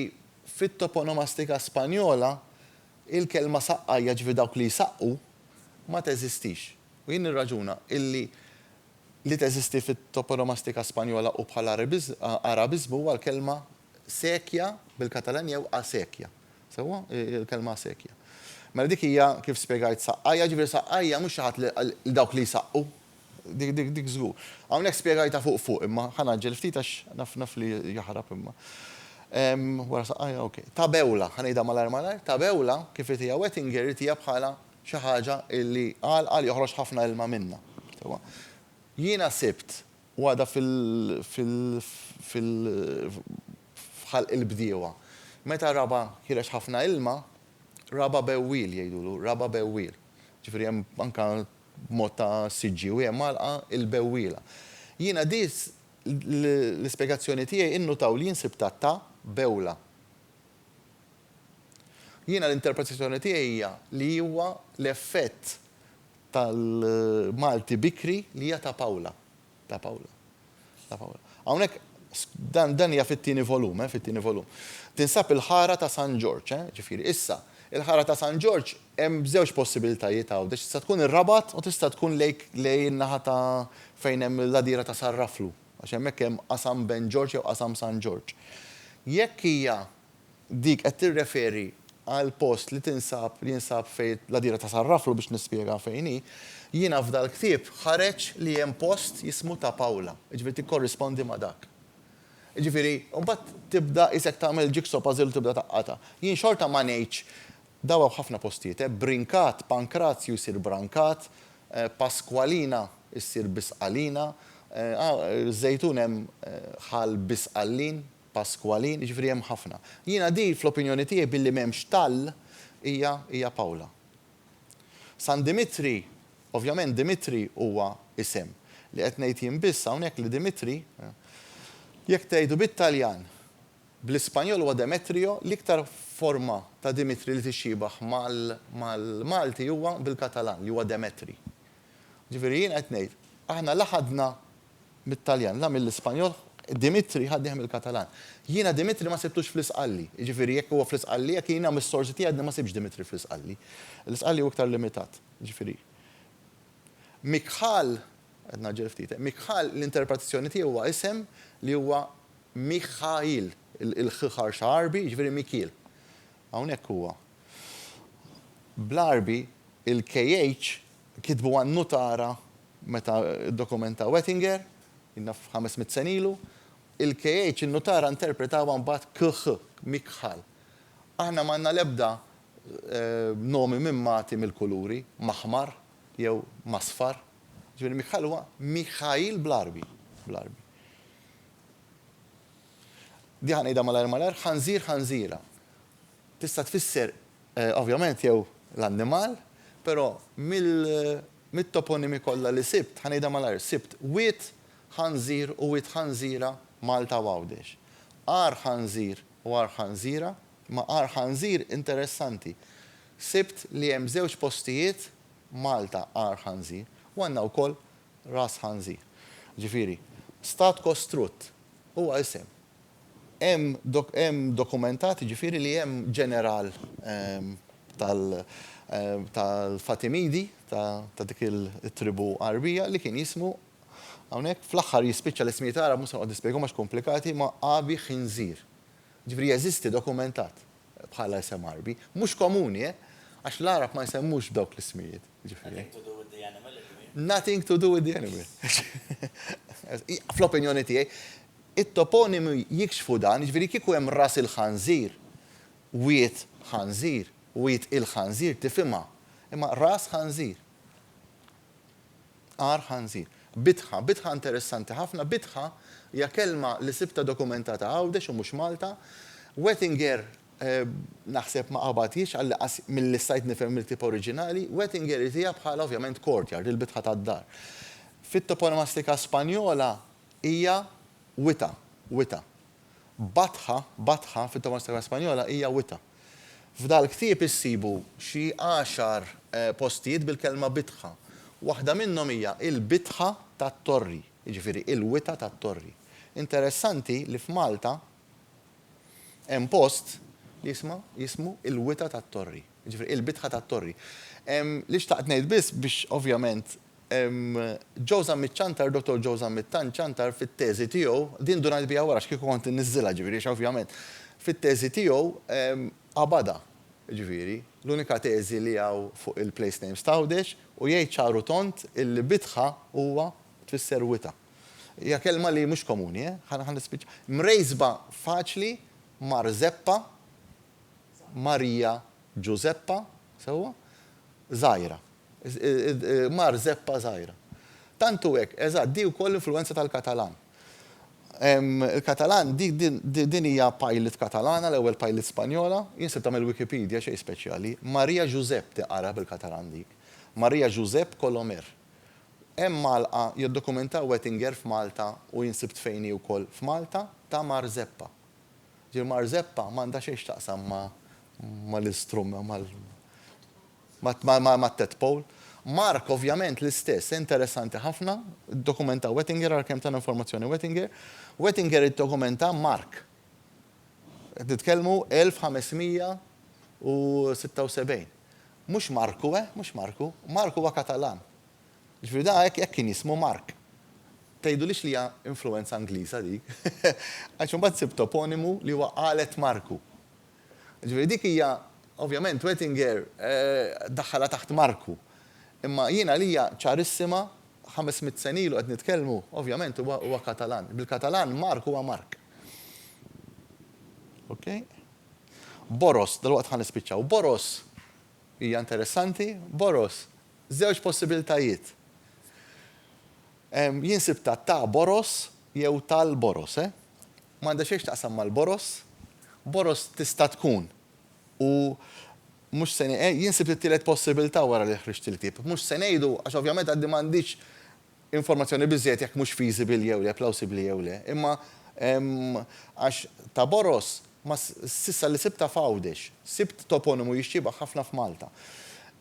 fit-toponomastika Spanjola il-kelma saqqa, jiġifieri dawk li jsaqqu, ma teżistix. U jien nirraġuna illi li teżisti fit-toponomastika Spanjola u bħala Għarabiżmu huwa l-kelma Sequia bil-Katalan jew acequia. Sewwa? Il-kelma acequia. Mela dik hija, kif spjegajt, saqqajja, jiġifieri saqqajja mhux xi ħadd li dawk li jsaqqu. Dik żgur. Hawnhekk spjegajtha fuq fuq imma ħa ngħaġġel ftit għax naf naf li jaħrab imma. Wara saqqajja, ok. Tabewla, ħa ngħidha malajr malajr, tabewla, kif irid hija Wettinger, irid hija bħala xi ħaġa li għalqa li joħroġ ħafna ilma minnha. Sewwa? Jiena sibt Għaqda fil-ħalq il-bdiewa. Meta raba' ħireġ ħafna ilma, raba' bewwiel jgħidulu, raba' bewwiel. Ġifieri hemm anke b'mod ta' siġġiewi hemm għalqa il-bewwiela. Jiena di l-ispjegazzjoni tiegħi innutaw li jien sibtha ta' bewla. Jiena l-interpretazzjoni tiegħi hija li huwa l-effett tal-Malti bikri li hija ta' Paula. Ta' Paula. Ta' Paula. Hawnhekk dan dan hija fit-tieni volum, eh, fit-tieni volum. Tinsab il-ħara ta' San Ġorġ, eh, ġifieri. Issa, il-ħara ta' San Ġorġ hemm żewġ possibilitajiet hawn, għax tista' tkun ir-Rabat u tista' tkun lejk lejn in-naħa ta' fejn hemm il-għadira ta' Sarraflu, għax hemmhekk hemm Qasam Ben Ġorġ jew Qasam San Ġorġ. Jekk hija Dik qed tirreferi għal post li tinsab li jinsab fejn l-għadira ta' San Raflu biex nispjega fejn hi. Jiena f'dal-ktieb ħareġ li hemm post jismu Ta' Pawla, jiġifieri tikkorrispondi ma' dak. Jiġifieri, u mbagħad tibda qisek tagħmel jigsaw puzzle u tibda taqqatha. Jien xorta ma ngħidx, daw hawn ħafna postijiet eh, Brinkat, Pankrazju jsir Brankat, Paskwalina ssir Bisqalina, Żejtun hemm Ħal Bisqallin, Pasqualin, jiġifieri hemm ħafna. Jiena din fl-opinjoni tiegħi billi m'hemmx tal hija hija Paula. San Dimitri, ovvjament Dimitri huwa isem. Li qed ngħid jien biss hawnhekk li Dimitri, jekk tgħidu bit-Taljan, bl-Ispanjol huwa Demetrio, l-iktar forma ta' Dimitri li tixxibaħ mal-Malti huwa bil-Katalan li huwa Demetri. Jiġifieri jiena qed ngħid, aħna la ħadna mit-Taljan, la mill-Ispanjol, Dimitri ħadnih mill-Katalan. Jiena Dimitri ma sibtux fl-Isqalli. Jiġifieri jekk huwa fl-Isqalli, jekk jiena mis-sorsi tiegħi għadni ma sibtx Dimitri fl-Isqalli. L-Isqalli hu iktar limitat. Jiġifieri Mikhal, qed ngħaġġel ftit, eh, Mikhal l-interpretazzjoni tiegħu huwa isem li huwa Mikhail, il-'kh' ħarxa Għarbi, jiġifieri Mikiel. Hawnhekk huwa bl-Għarbi il-'kh' kitbu għan-nutara meta ddokumentaw Ettinger, naf ħames mitt sena ilu, il-KH in-nutara interpretawha mbagħad KH, Mikhal. Aħna m'għandna l-ebda nomi minn Mati mill-kuluri, Maħmar jew Masfar. Jiġifieri Mikhal huwa Mikhail bl-Għarbi, bl-Għarbi. Di ħa ngħidha malajr malajr, ħanżir ħanżira. Tista' tfisser ovvjament jew l-annimal, però mit-toponimi kollha li sibt, ħa ngħidha malajr, sibt wied ħanżir u wied ħanżira Malta u Għawdex. Għar ħanżir u għar ħanżira, imma għar ħanżir interessanti. Sibt li hemm żewġ postijiet Malta għar ħanżir u għandna wkoll ras ħanżir. Ġifieri, stat kostrutt huwa isem Hemm dokumentat jiġifieri li hemm ġeneral tal-Fatimidi, ta' dik it-tribù Għarbija, li kien jismu, hawnhekk fl-aħħar jispiċċa l-ismijiet Għarab mhux se noqgħod nispjegahom għax komplikati, ma' Abi Khinzir. Jiġifieri jeżisti dokumentat bħala isem Għarbi. Mhux komuni, eh! Għax l-Għarab ma jsemmux b'dawk l-ismijiet, jiġifieri. Nothing to do with the animal, it means. Nothing to do with the animal. Fl-opinjoni tiegħi, It-toponimi jikxfu dan, jiġifieri kieku hemm Ras il-Ħanżir, Wied Ħanżir, Wied il-Ħanżir tifhimha, imma Ras Ħanżir, Għar Ħanżir. Bitħa, Bitħa interessanti ħafna, Bitħa hija kelma li sibtha dokumentata Għawdex u mhux Malta. Wettinger naħseb ma qabadhiex għal inqas milli stajt nifhem mill-ktieb oriġinali, Wettinger jtiha bħala ovvjament courtyard, il-bitħa tad-dar. Fit-toponomastika Spanjola Hija wita', wita'. Batħa, batħa fit-Toma Strega Spanjola hija wita'. F'dal-ktieb issibu xi għaxar postijiet bil-kelma bitħa. Waħda minnhom hija il-bitħa tat-Torri, jiġifieri il-wita' tat-Torri. Interessanti li f'Malta hemm post li jisma' jismu il-wita' tat-Torri, jiġifieri il-bitħa tat-Torri. Li xtaqt ngħid biss biex ovvjament Joe Zammit Ciantar, Dottor Joe Zammit Tan Ciantar fit-teżi tiegħu, din ndunajt biha wara għax kieku kont inniżżilha ġifieri għax ovvjament, fit-teżi tiegħu qabadha, ġifieri, l-unika teżi li hawn fuq il-place names t'Għawdex u jgħid ċar u tond illi bitħa huwa tfisser wita'. Hija kelma li mhux komuni, eh, ħa ħa nispiċċa. Mrejsba faċli Marzeppa, Marija Ġużeppa, sewwa? Żgħira. Mar zeppa żgħira. Tant hu hekk, eżatt, di wkoll influwenza tal-Katalan. Il-Katalan, din hija pilot Katalana, l-ewwel pilot Spanjola. Jien sibtha mill-Wikipedia, xejn speċjali. Maria Josep tiqara bil-Katalan dik. Maria Josep Colomer. Hemm għalqa jiddokumentaw Wettinger f'Malta u jien sibt fejn hi wkoll f'Malta, ta' Mar Zeppa. Ġifieri Mar Zeppa m'għandha xejn x'taqsam mal-istrument, mal. mat-tadpole. Mark ovvjament l-istess. Interessanti ħafna, iddokumenta Wettinger ara kemm tana informazzjoni Wettinger. Wettinger iddokumenta Mark. Qed nitkellmu 1576. Mhux Marku, eh, mhux Marku. Mark huwa Katalan. Jiġifieri da hekk hekk kien jismu Mark. Tgħidulix li hija influwenza Ingliża dik. Għax imbagħad sibt toponimu li huwa Qalet Marku. Ġifieri dik hija, ovvjament Oettinger daħħalha taħt Marku. Imma jien għalija ċarissima, ħames mitt sena ilu qed nitkellmu, ovvjament huwa huwa Katalan. Bil-Katalan Mark huwa Mark. Okay? Boros, dalwaqt ħa nispiċċaw. Boros hija interessanti, Boros, żewġ possibiltajiet. Jien sibtha ta' Boros jew tal-Boros, eh? Ma għandha xejn x'taqsam mal-boroż. Boroż tista' tkun. U mhux se ngħi, jien sibt it-tielet possibilità wara li ħriġt il-ktieb. Mhux se ngħidu, għax ovvjament għadni m'għandix informazzjoni biżżejjed jekk mhux feasible jew le, plausibbli jew le. Imma għax ta' boroż ma s'issa li sibtha f'Għawdex. Sibt toponimu jixxiebah ħafna f'Malta.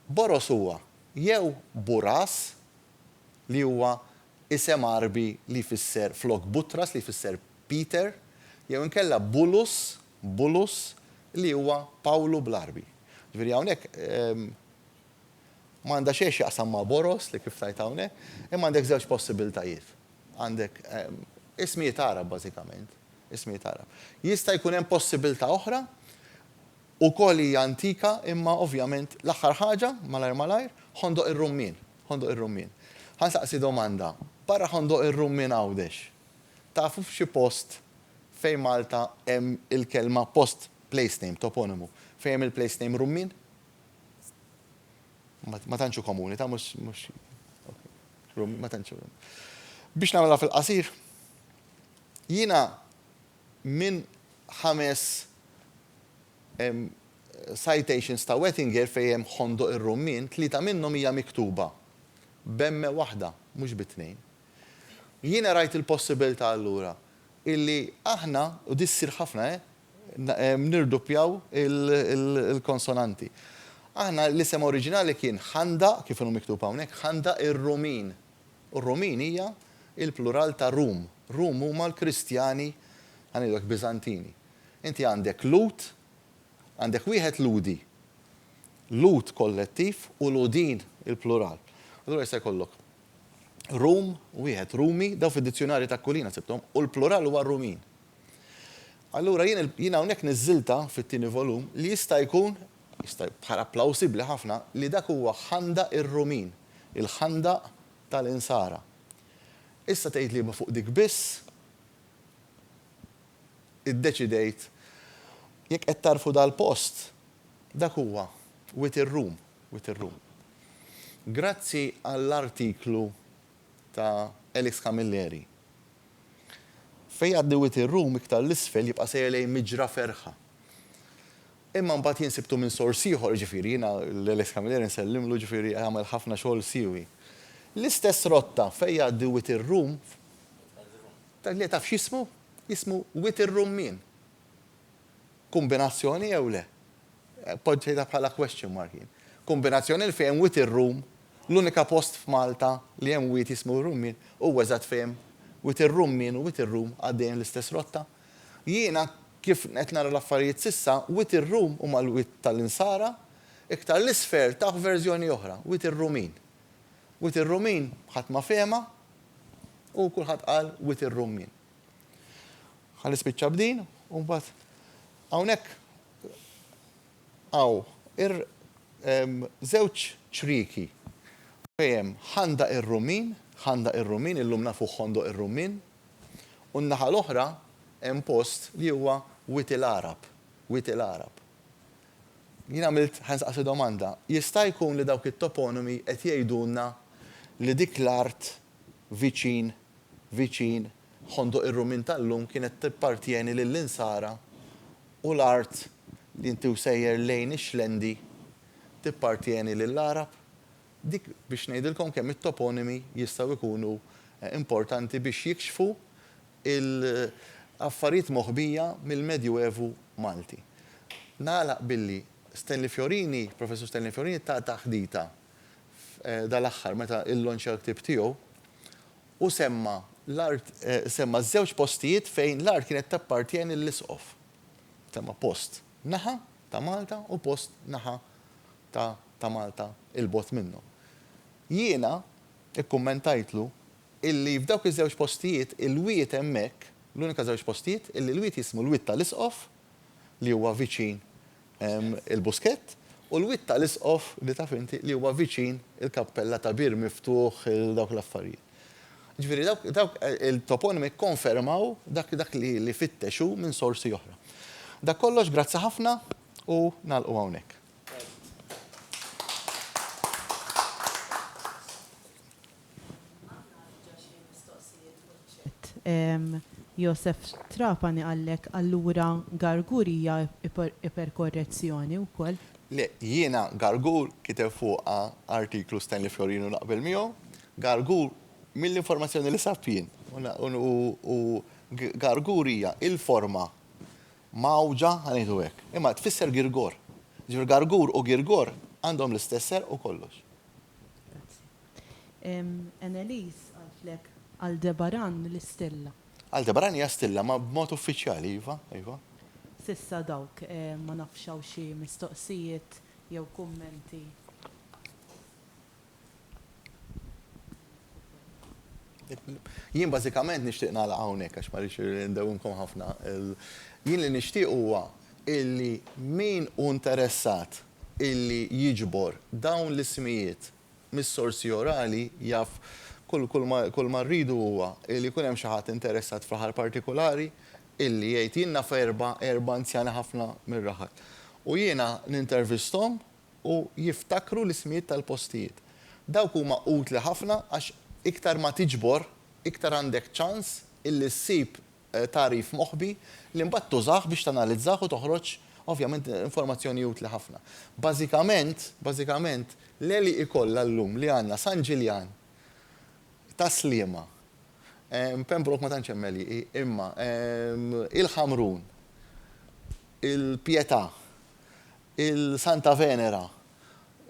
Boroż huwa jew buraż li huwa Isem Għarbi li jfisser flok Butras li jfisser Peter jew inkella Bulus, Bulus, li huwa Pawlu bl-Għarbi. Ġifieri hawnhekk m'għandha xejn x'jaqsam ma' Boros li kif tgħid hawnhekk, imma għandek żewġ possibiltajiet. Għandek ismijiet Għarab bażikament, ismijiet Għarab. Jista' jkun hemm possibilità oħra Ukoll hija antika imma ovvjament l-aħħar ħaġa, malajr malajr, Ħondoq ir-Rummien. Ħondoq ir-Rummien. Ħa nsaqsi domanda, barra Ħondoq ir-Rummien Għawdex, tafu f'xi post fejn Malta hemm il-kelma post, place name, toponimu, fejn hemm il-place name Rummien? Ma tantx hu komuni, ta' mhux, mhux, Rummien, ma tantx hu. Biex nagħmilha fil-qasir, jiena minn ħames Citations ta' Wettinger fejn hemm Ħondoq ir-Rummien, tlieta minnhom hija miktuba b'emme waħda, mhux bi tnejn. Jiena rajt il-possibilità allura illi aħna, u di ssir ħafna eh, nirduppjaw il-konsonanti. Aħna l-isem oriġinali kien Ħandaq, kif inhu miktub hawnhekk, Ħandaq ir-Rumin. U r-Rumin hija l-plural ta' Rum. Rum huma l-Kristjani, ħa ngħidu hekk, Biżantini. Inti għandek Lhud, għandek wieħed Lhudi, Lhud kollettiv u Lhudin il-plural. Allura jista' jkollok Rum, wieħed Rumi, dawn fid-dizzjunarji ta' Aquilina sibthom, u l-plural huwa Rumin. Allura jien jien hawnhekk niżżiltha fit-tieni volum li jista' jkun, jista' bħala plawsibbli ħafna, li dak huwa ħandaq ir-Rumin, il-ħandaq tal-Insara. Issa tgħid li ma fuq dik biss, Iddeċidejt, Jekk qed tagħrfu dal-post, dak huwa, waiting room, waiting room. Grazzi għall-artiklu ta' Alex Camilleri. Fejn jgħaddi waiting room iktar 'l isfel jibqa' sejjer lejn Miġra Ferħa. Imma mbagħad jien sibtu minn sors ieħor, jiġifieri jiena lil Alex Camilleri nsellimlu jiġifieri għamel ħafna xogħol siewi. L-istess rotta fejn jgħaddi waiting room, Dak li taf x'jismu? Jismu Wied ir-Rummien. Kumbinazzjoni jew le? Poġġejtha bħala question mark jien. Kumbinazzjoni li fejn Wied ir-Rum, l-unika post f'Malta li hemm wied jismu r-Rummien huwa eżatt fejn Wied ir-Rummien u Wied ir-Rum għaddejjin l-istess rotta. Jiena kif qed nara l-affarijiet s'issa, Wied ir-Rum huma l-wied tal-Insara, iktar 'l isfel tah verżjoni oħra, Wied ir-Rumin. Wied ir-Rumin ħadd ma fehemha, U kulħadd qal Wied ir-Rummien. Ħa nispiċċa b'din u mbagħad hawnhekk hawn ir żewġ ċrieki fejn hemm Ħandaq ir-Rummien, Ħandaq ir-Rummien, illum nafuh Ħondoq ir-Rummien, u n-naħa l-oħra hemm post li huwa Wied il-Għarab, Wied il-Għarab. Jien għamilt, ħa nistaqsi domanda, jista' jkun li dawk it-toponimi qed jgħidulna li dik l-art viċin, viċin, Ħondoq ir-Rumin tal-lum kienet tappartjeni lill-Insara u l-art li inti u sejjer lejn ix-Xlendi tippartjeni lill-Għarab? Dik biex ngħidilkom kemm it-toponimi jistgħu jkunu importanti biex jikxfu il-affarijiet moħbija mill-Medju Evu Malti. Nagħlaq billi Stanley Fiorini, Professur Stanley Fiorini ta taħdita dal-aħħar meta llonċja l-ktieb tiegħu u semma l-art semma ż-żewġ postijiet fejn l-art kienet tappartjeni lill-Isqof. Semma post naħa ta' Malta u post naħa ta' ta' Malta 'il bogħod minnhom. Jiena Ikkummentajtlu illi f'dawk iż-żewġ postijiet il-wied hemmhekk, l-unika żewġ postijiet illi l-wied jismu l-Wied tal-Isqof li huwa viċin il-Buskett u l-Wied tal-Isqof li taf inti li huwa viċin il-Kappella ta' Bir Miftuħ dawk l-affarijiet. Ġifieri dawk dawk il-toponimi kkonfermaw dak dak li li fittex hu minn sorsi oħra. Dak kollox, grazzi ħafna u nagħlqu hawnhekk. Josef Trapani qallek allura Gargur hija iperkorrezzjoni wkoll? Le, jiena Gargur kiteb fuqha artiklu Stanley Florin u naqbel miegħu. Gargur, mill-informazzjoni li sabt jien, u Gargur hija il-forma mgħawġa, ħa ngħidu hekk, imma tfisser girgor. Jiġifieri gargur u girgor għandhom l-istess serq u kollox. Grazzi. Anneliese qaltlek Aldebaran l-istilla. Aldebaran hija stilla, ma b'mod uffiċjali, iva, iva. S'issa dawk, ma nafx hawn xi mistoqsijiet jew kummenti. Jien bażikament nixtieq nagħlaq hawnhekk għax ma rridx indewwimkom ħafna. Jien li nixtieq huwa illi min hu interessat illi jiġbor dawn l-ismijiet mis-sorsi orali jaf kull ma rridu huwa illi jkun hemm xi ħadd interessat f'raħal partikulari illi jgħid jien naf erba' anzjani ħafna mir-raħal. U jiena nintervisthom u jiftakru l-ismijiet tal-postijiet. Dawk huma utli ħafna għax iktar ma tiġbor, iktar għandek ċans illi ssib tagħrif moħbi li mbagħad tużah biex tanalizzah u toħroġ ovvjament informazzjoni utli ħafna. Bażikament, bażikament, l-għeli ikollha llum li għandna San Ġiljan ta' Sliema, Pembroke ma tantx hemm għelieqi, imma il-Ħamrun, il-Pietà, il-Santa Venera,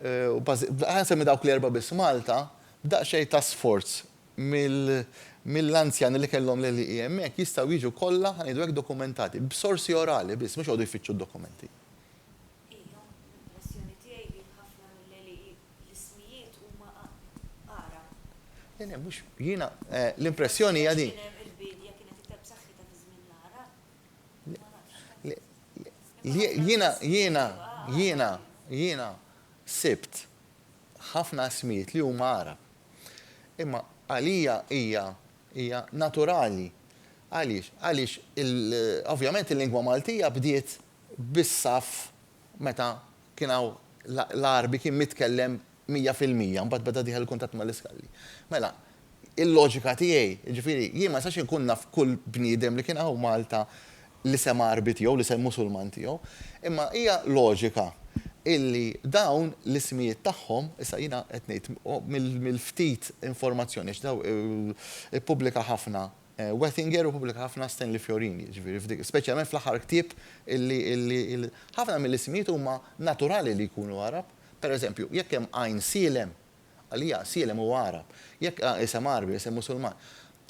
u ħa nsemmi dawk l-erbgħa biss, Malta, b'daqsxejn ta' sforz mill-anzjani li kellhom l-għelieqi hemmhekk, jistgħu jiġu kollha, ħa ngħidu hekk, dokumentati, b'sorsi orali biss, mhux joqogħdu jfittxu d-dokumenti. Hija l-impressjoni tiegħi li f'ħafna mill-għelieqi l-ismijiet huma Għarab. Le le, mhux, jiena, l-impressjoni hija din. Għax kien hemm il-biedja kienet iktar b'saħħitha fi żmien l-Għarab. Jiena, jiena, jiena, jiena sibt ħafna ismijiet li huma Għarab. Imma għalija hija, hija naturali. Għaliex? Għaliex il, ovvjament il-lingwa Maltija bdiet bis-saff meta Kien hawn l-Għarbi kien mitkellem mija fil-mija, mbagħad beda dieħel il-kuntatt mal-iskalli. Mela, il-loġika tiegħi, jiġifieri, jien ma nistax inkun naf kull bniedem li kien hawn Malta l-isem Għarbi tiegħu, l-isem Musulman tiegħu. Imma hija loġika illi dawn l-ismijiet tagħhom, issa jiena qed ngħid mill-ftit informazzjoni għax dawn ippubblika ħafna Wettinger u pubblika ħafna Stanley Fiorini, jiġifieri f'dik, speċjalment fl-aħħar ktieb illi, illi, il, ħafna mill-ismijiet huma naturali li jkunu Għarab. Per eżempju, jekk hemm għajn Sielem, għalija Sielem huwa Għarab. Jekk a, isem Għarbi, isem Musulman.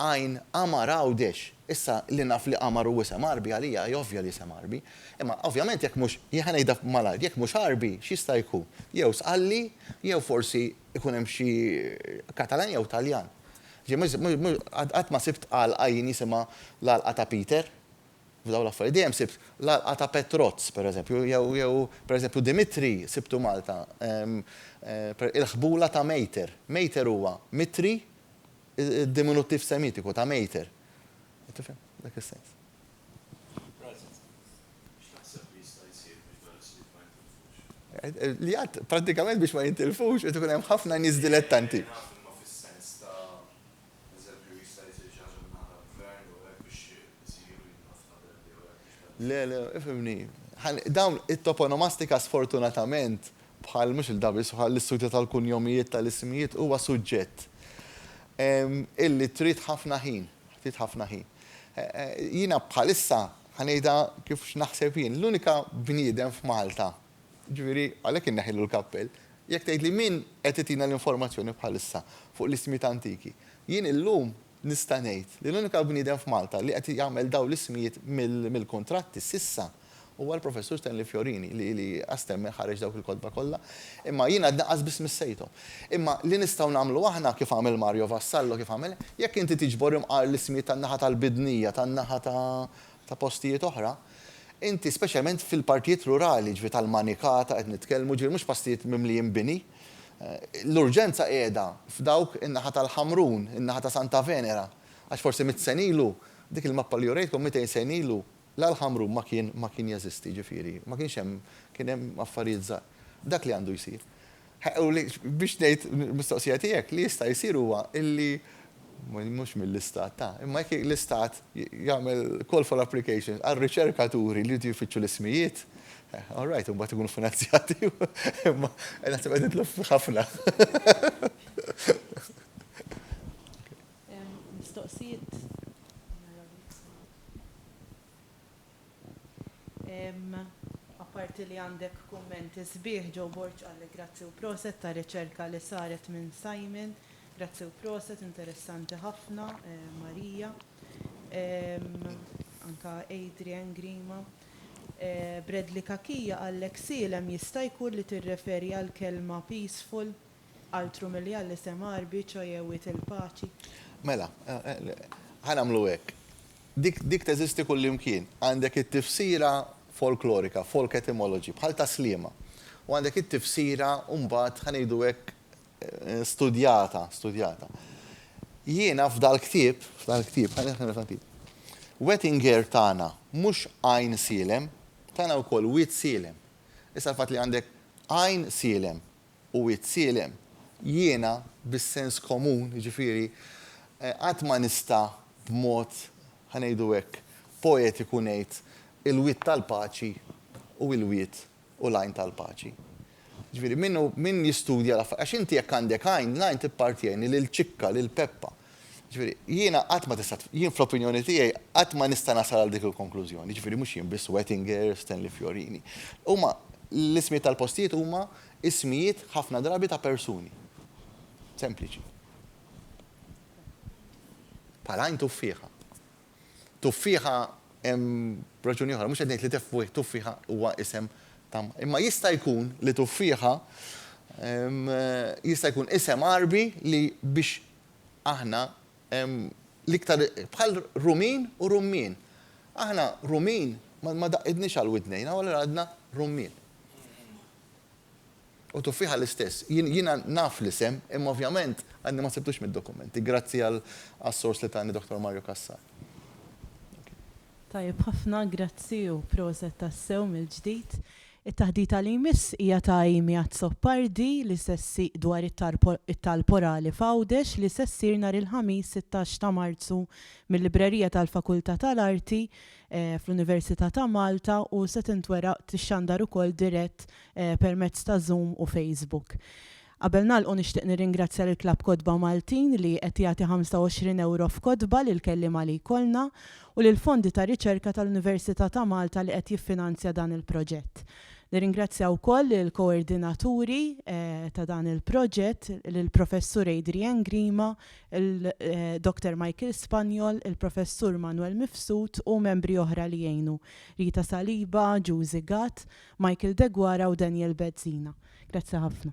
Għajn Għamar Għawdex. Issa, li naf li Għamar hu isem Għarbi, għalija hi ovvja li isem Għarbi. Imma, ovvjament, jekk mhux, jien ħa ngħidha malajr, jekk mhux Għarbi, x'jista' jkun? Jew Sqalli, jew forsi ikun hemm xi Katalan jew Taljan. Qatt ma sibt għalqa jien jisimha l-għalqa ta' Peter, f'dawn l-affarijiet. Dejjem sibt l-għalqa ta' Petrozz, pereżempju, jew pereżempju Dimitri sibtu Malta. Il-ħbula ta' Mejter. Mejter huwa Mitri, id-diminuttiv Semitiku ta' Mejter. Tifhem? F'dak is-sens. Li għad, pratikament biex ma jintilfux, jtu kunem ħafna nis dilettanti. Le, le, ifimni. Dawn it-toponomastika sfortunatament bħal mux il-dabis bħal l-istudju tal-kunjomijiet tal-ismijiet huwa suġġett illi trid ħafna ħin. ftit ħafna ħin. Jiena bħalissa ħa ngħidha kif x'naħseb jien, l-unika bniedem f'Malta, ġifieri għalhekk inneħħilu l-kappell, jekk tgħidli min qed itina l-informazzjoni bħalissa fuq l-ismijiet antiki, jien illum nista' ngħid li l-unika bniedem f'Malta li qed jagħmel dawn l-ismijiet mill-kuntratti s'issa, Huwa l-Professur Stanley Fiorini li li għas-stemmen ħareġ dawk il-kotba kollha, imma jiena għad naqas biss missejthom. Imma li nistgħu nagħmlu aħna, kif għamel Mario Vassallo, kif għamel, jekk inti tiġbor imqar l-ismijiet tan-naħa tal-Bidnija, tan-naħa ta' ta' postijiet oħra, inti speċjalment fil-partijiet rurali, ġifieri tal-Manikata qed nitkellmu, ġifieri mhux pastijiet mimlijin bini, l-urġenza qiegħda f'dawk in-naħa tal-Ħamrun, in-naħa ta' Santa Venera, għax forsi mitt sena ilu, dik il-mappa li urejtkom mitejn sena ilu, La l-ħamrun ma kien ma kien jeżisti, jiġifieri ma kienx hemm kien hemm affarijiet żgħar. Dak li għandu jsir. U li biex ngħid mistoqsija tiegħek, li jista' jsir huwa illi mhux mill-Istat ta', imma jekk l-Istat jagħmel call for applications għal riċerkaturi li jridu jfittxu l-ismijiet, all right, imbagħad ikunu finanzjati, imma naħseb qed nidħlu f'ħafna. Mistoqsijiet? Apparti li għandek kumment sbieħ, Joe Borg qalli grazzi u proset tar-riċerka li saret minn Simon. Grazzi u proset, interessanti ħafna, Maria. Anke Adrian Grima. Bradley Cachia qallek sielem jista' jkun li tirreferi għall-kelma peaceful? Altru milli għal isem Għarbi, ċoje Wied il-Paċi. Mela, ħa nagħmlu hekk. Dik, dik teżisti kullimkien. Għandek it-tifsira folklorika, folk etymology, bħal ta' Sliema. U għandek it-tifsira mbagħad, ħa ngħidu hekk, studjata, studjata. Jiena f'dal-ktieb, f'dal-ktieb, ħa nieħdu nifhem ftit. Wettinger tana mhux Għajn Sielem, tana wkoll Wied Sielem. Issa l-fatt li għandek Għajn Sielem, u wied sielem. Jiena, bis-sens komun, jiġifieri, qatt ma nista' b'mod, ħa ngħidu hekk, poetiku ngħid, il-wied tal-paċi u l-wied u l-għajn tal-paċi. Jiġifieri, min jistudja l-affarijiet, għax inti jekk għandek għajn, l-għajn tippartjeni lil Ċikka, lil Peppa, Jiġifieri, jiena qatt ma tista' jien fl-opinjoni tiegħi qatt ma nista' nasal għal dik il-konklużjoni, jiġifieri mhux jien biss Wettinger, Stanley Fiorini. Huma l-ismijiet tal-postijiet huma ismijiet ħafna drabi ta' persuni. Sempliċi. Bħal Għajn Tuffieħa. Tuffieħa hemm raġuni oħra, mhux qed ngħid li Tuffieħa huwa isem ta' imma jista' jkun li Tuffieħa jista' jkun isem Għarbi li biex Aħna l-iktar bħal rumin u rummien. Aħna rumin ma daqqidniex għal widnejna u allura għadna rummien. U tuffieħa l-istess. Jiena naf l-isem imma ovvjament għadni ma sibtux mid-dokumenti. Grazzi għas-sors li tani Dottor Mario Cassar. Tajjeb ħafna, grazzi u proset tassew mill-ġdid. It-taħdita li jmiss hija ta' Amy Azzopardi li se ssieq dwar it-talb orali f'Għawdex li se ssir nhar il-Ħamis sittax ta' Marzu mil-Librerija tal-Fakultà tal-Arti fl-Università ta' Malta u se tintwera tixxandar ukoll dirett permezz ta' Zoom u Facebook. Qabel nagħlqu nixtieq nirringrazzja lill-Klabb Kotba Maltin li qed jagħti 25 ewro f'kotba lill-kelliema li jkollna u lill-Fondi ta' Riċerka tal-Università ta' Malta li qed jiffinanzja dan il-proġett. Nirringrazzja wkoll lill-koordinaturi ta' dan il-proġett, lill-Professur Adrian Grima, il-Dr Michael Spaniol, il-Professur Manuel Mifsud u membri oħra li għinu, Rita Saliba, Juzi Gatt, Michael Deguara u Daniel Bezzina. Grazzi ħafna.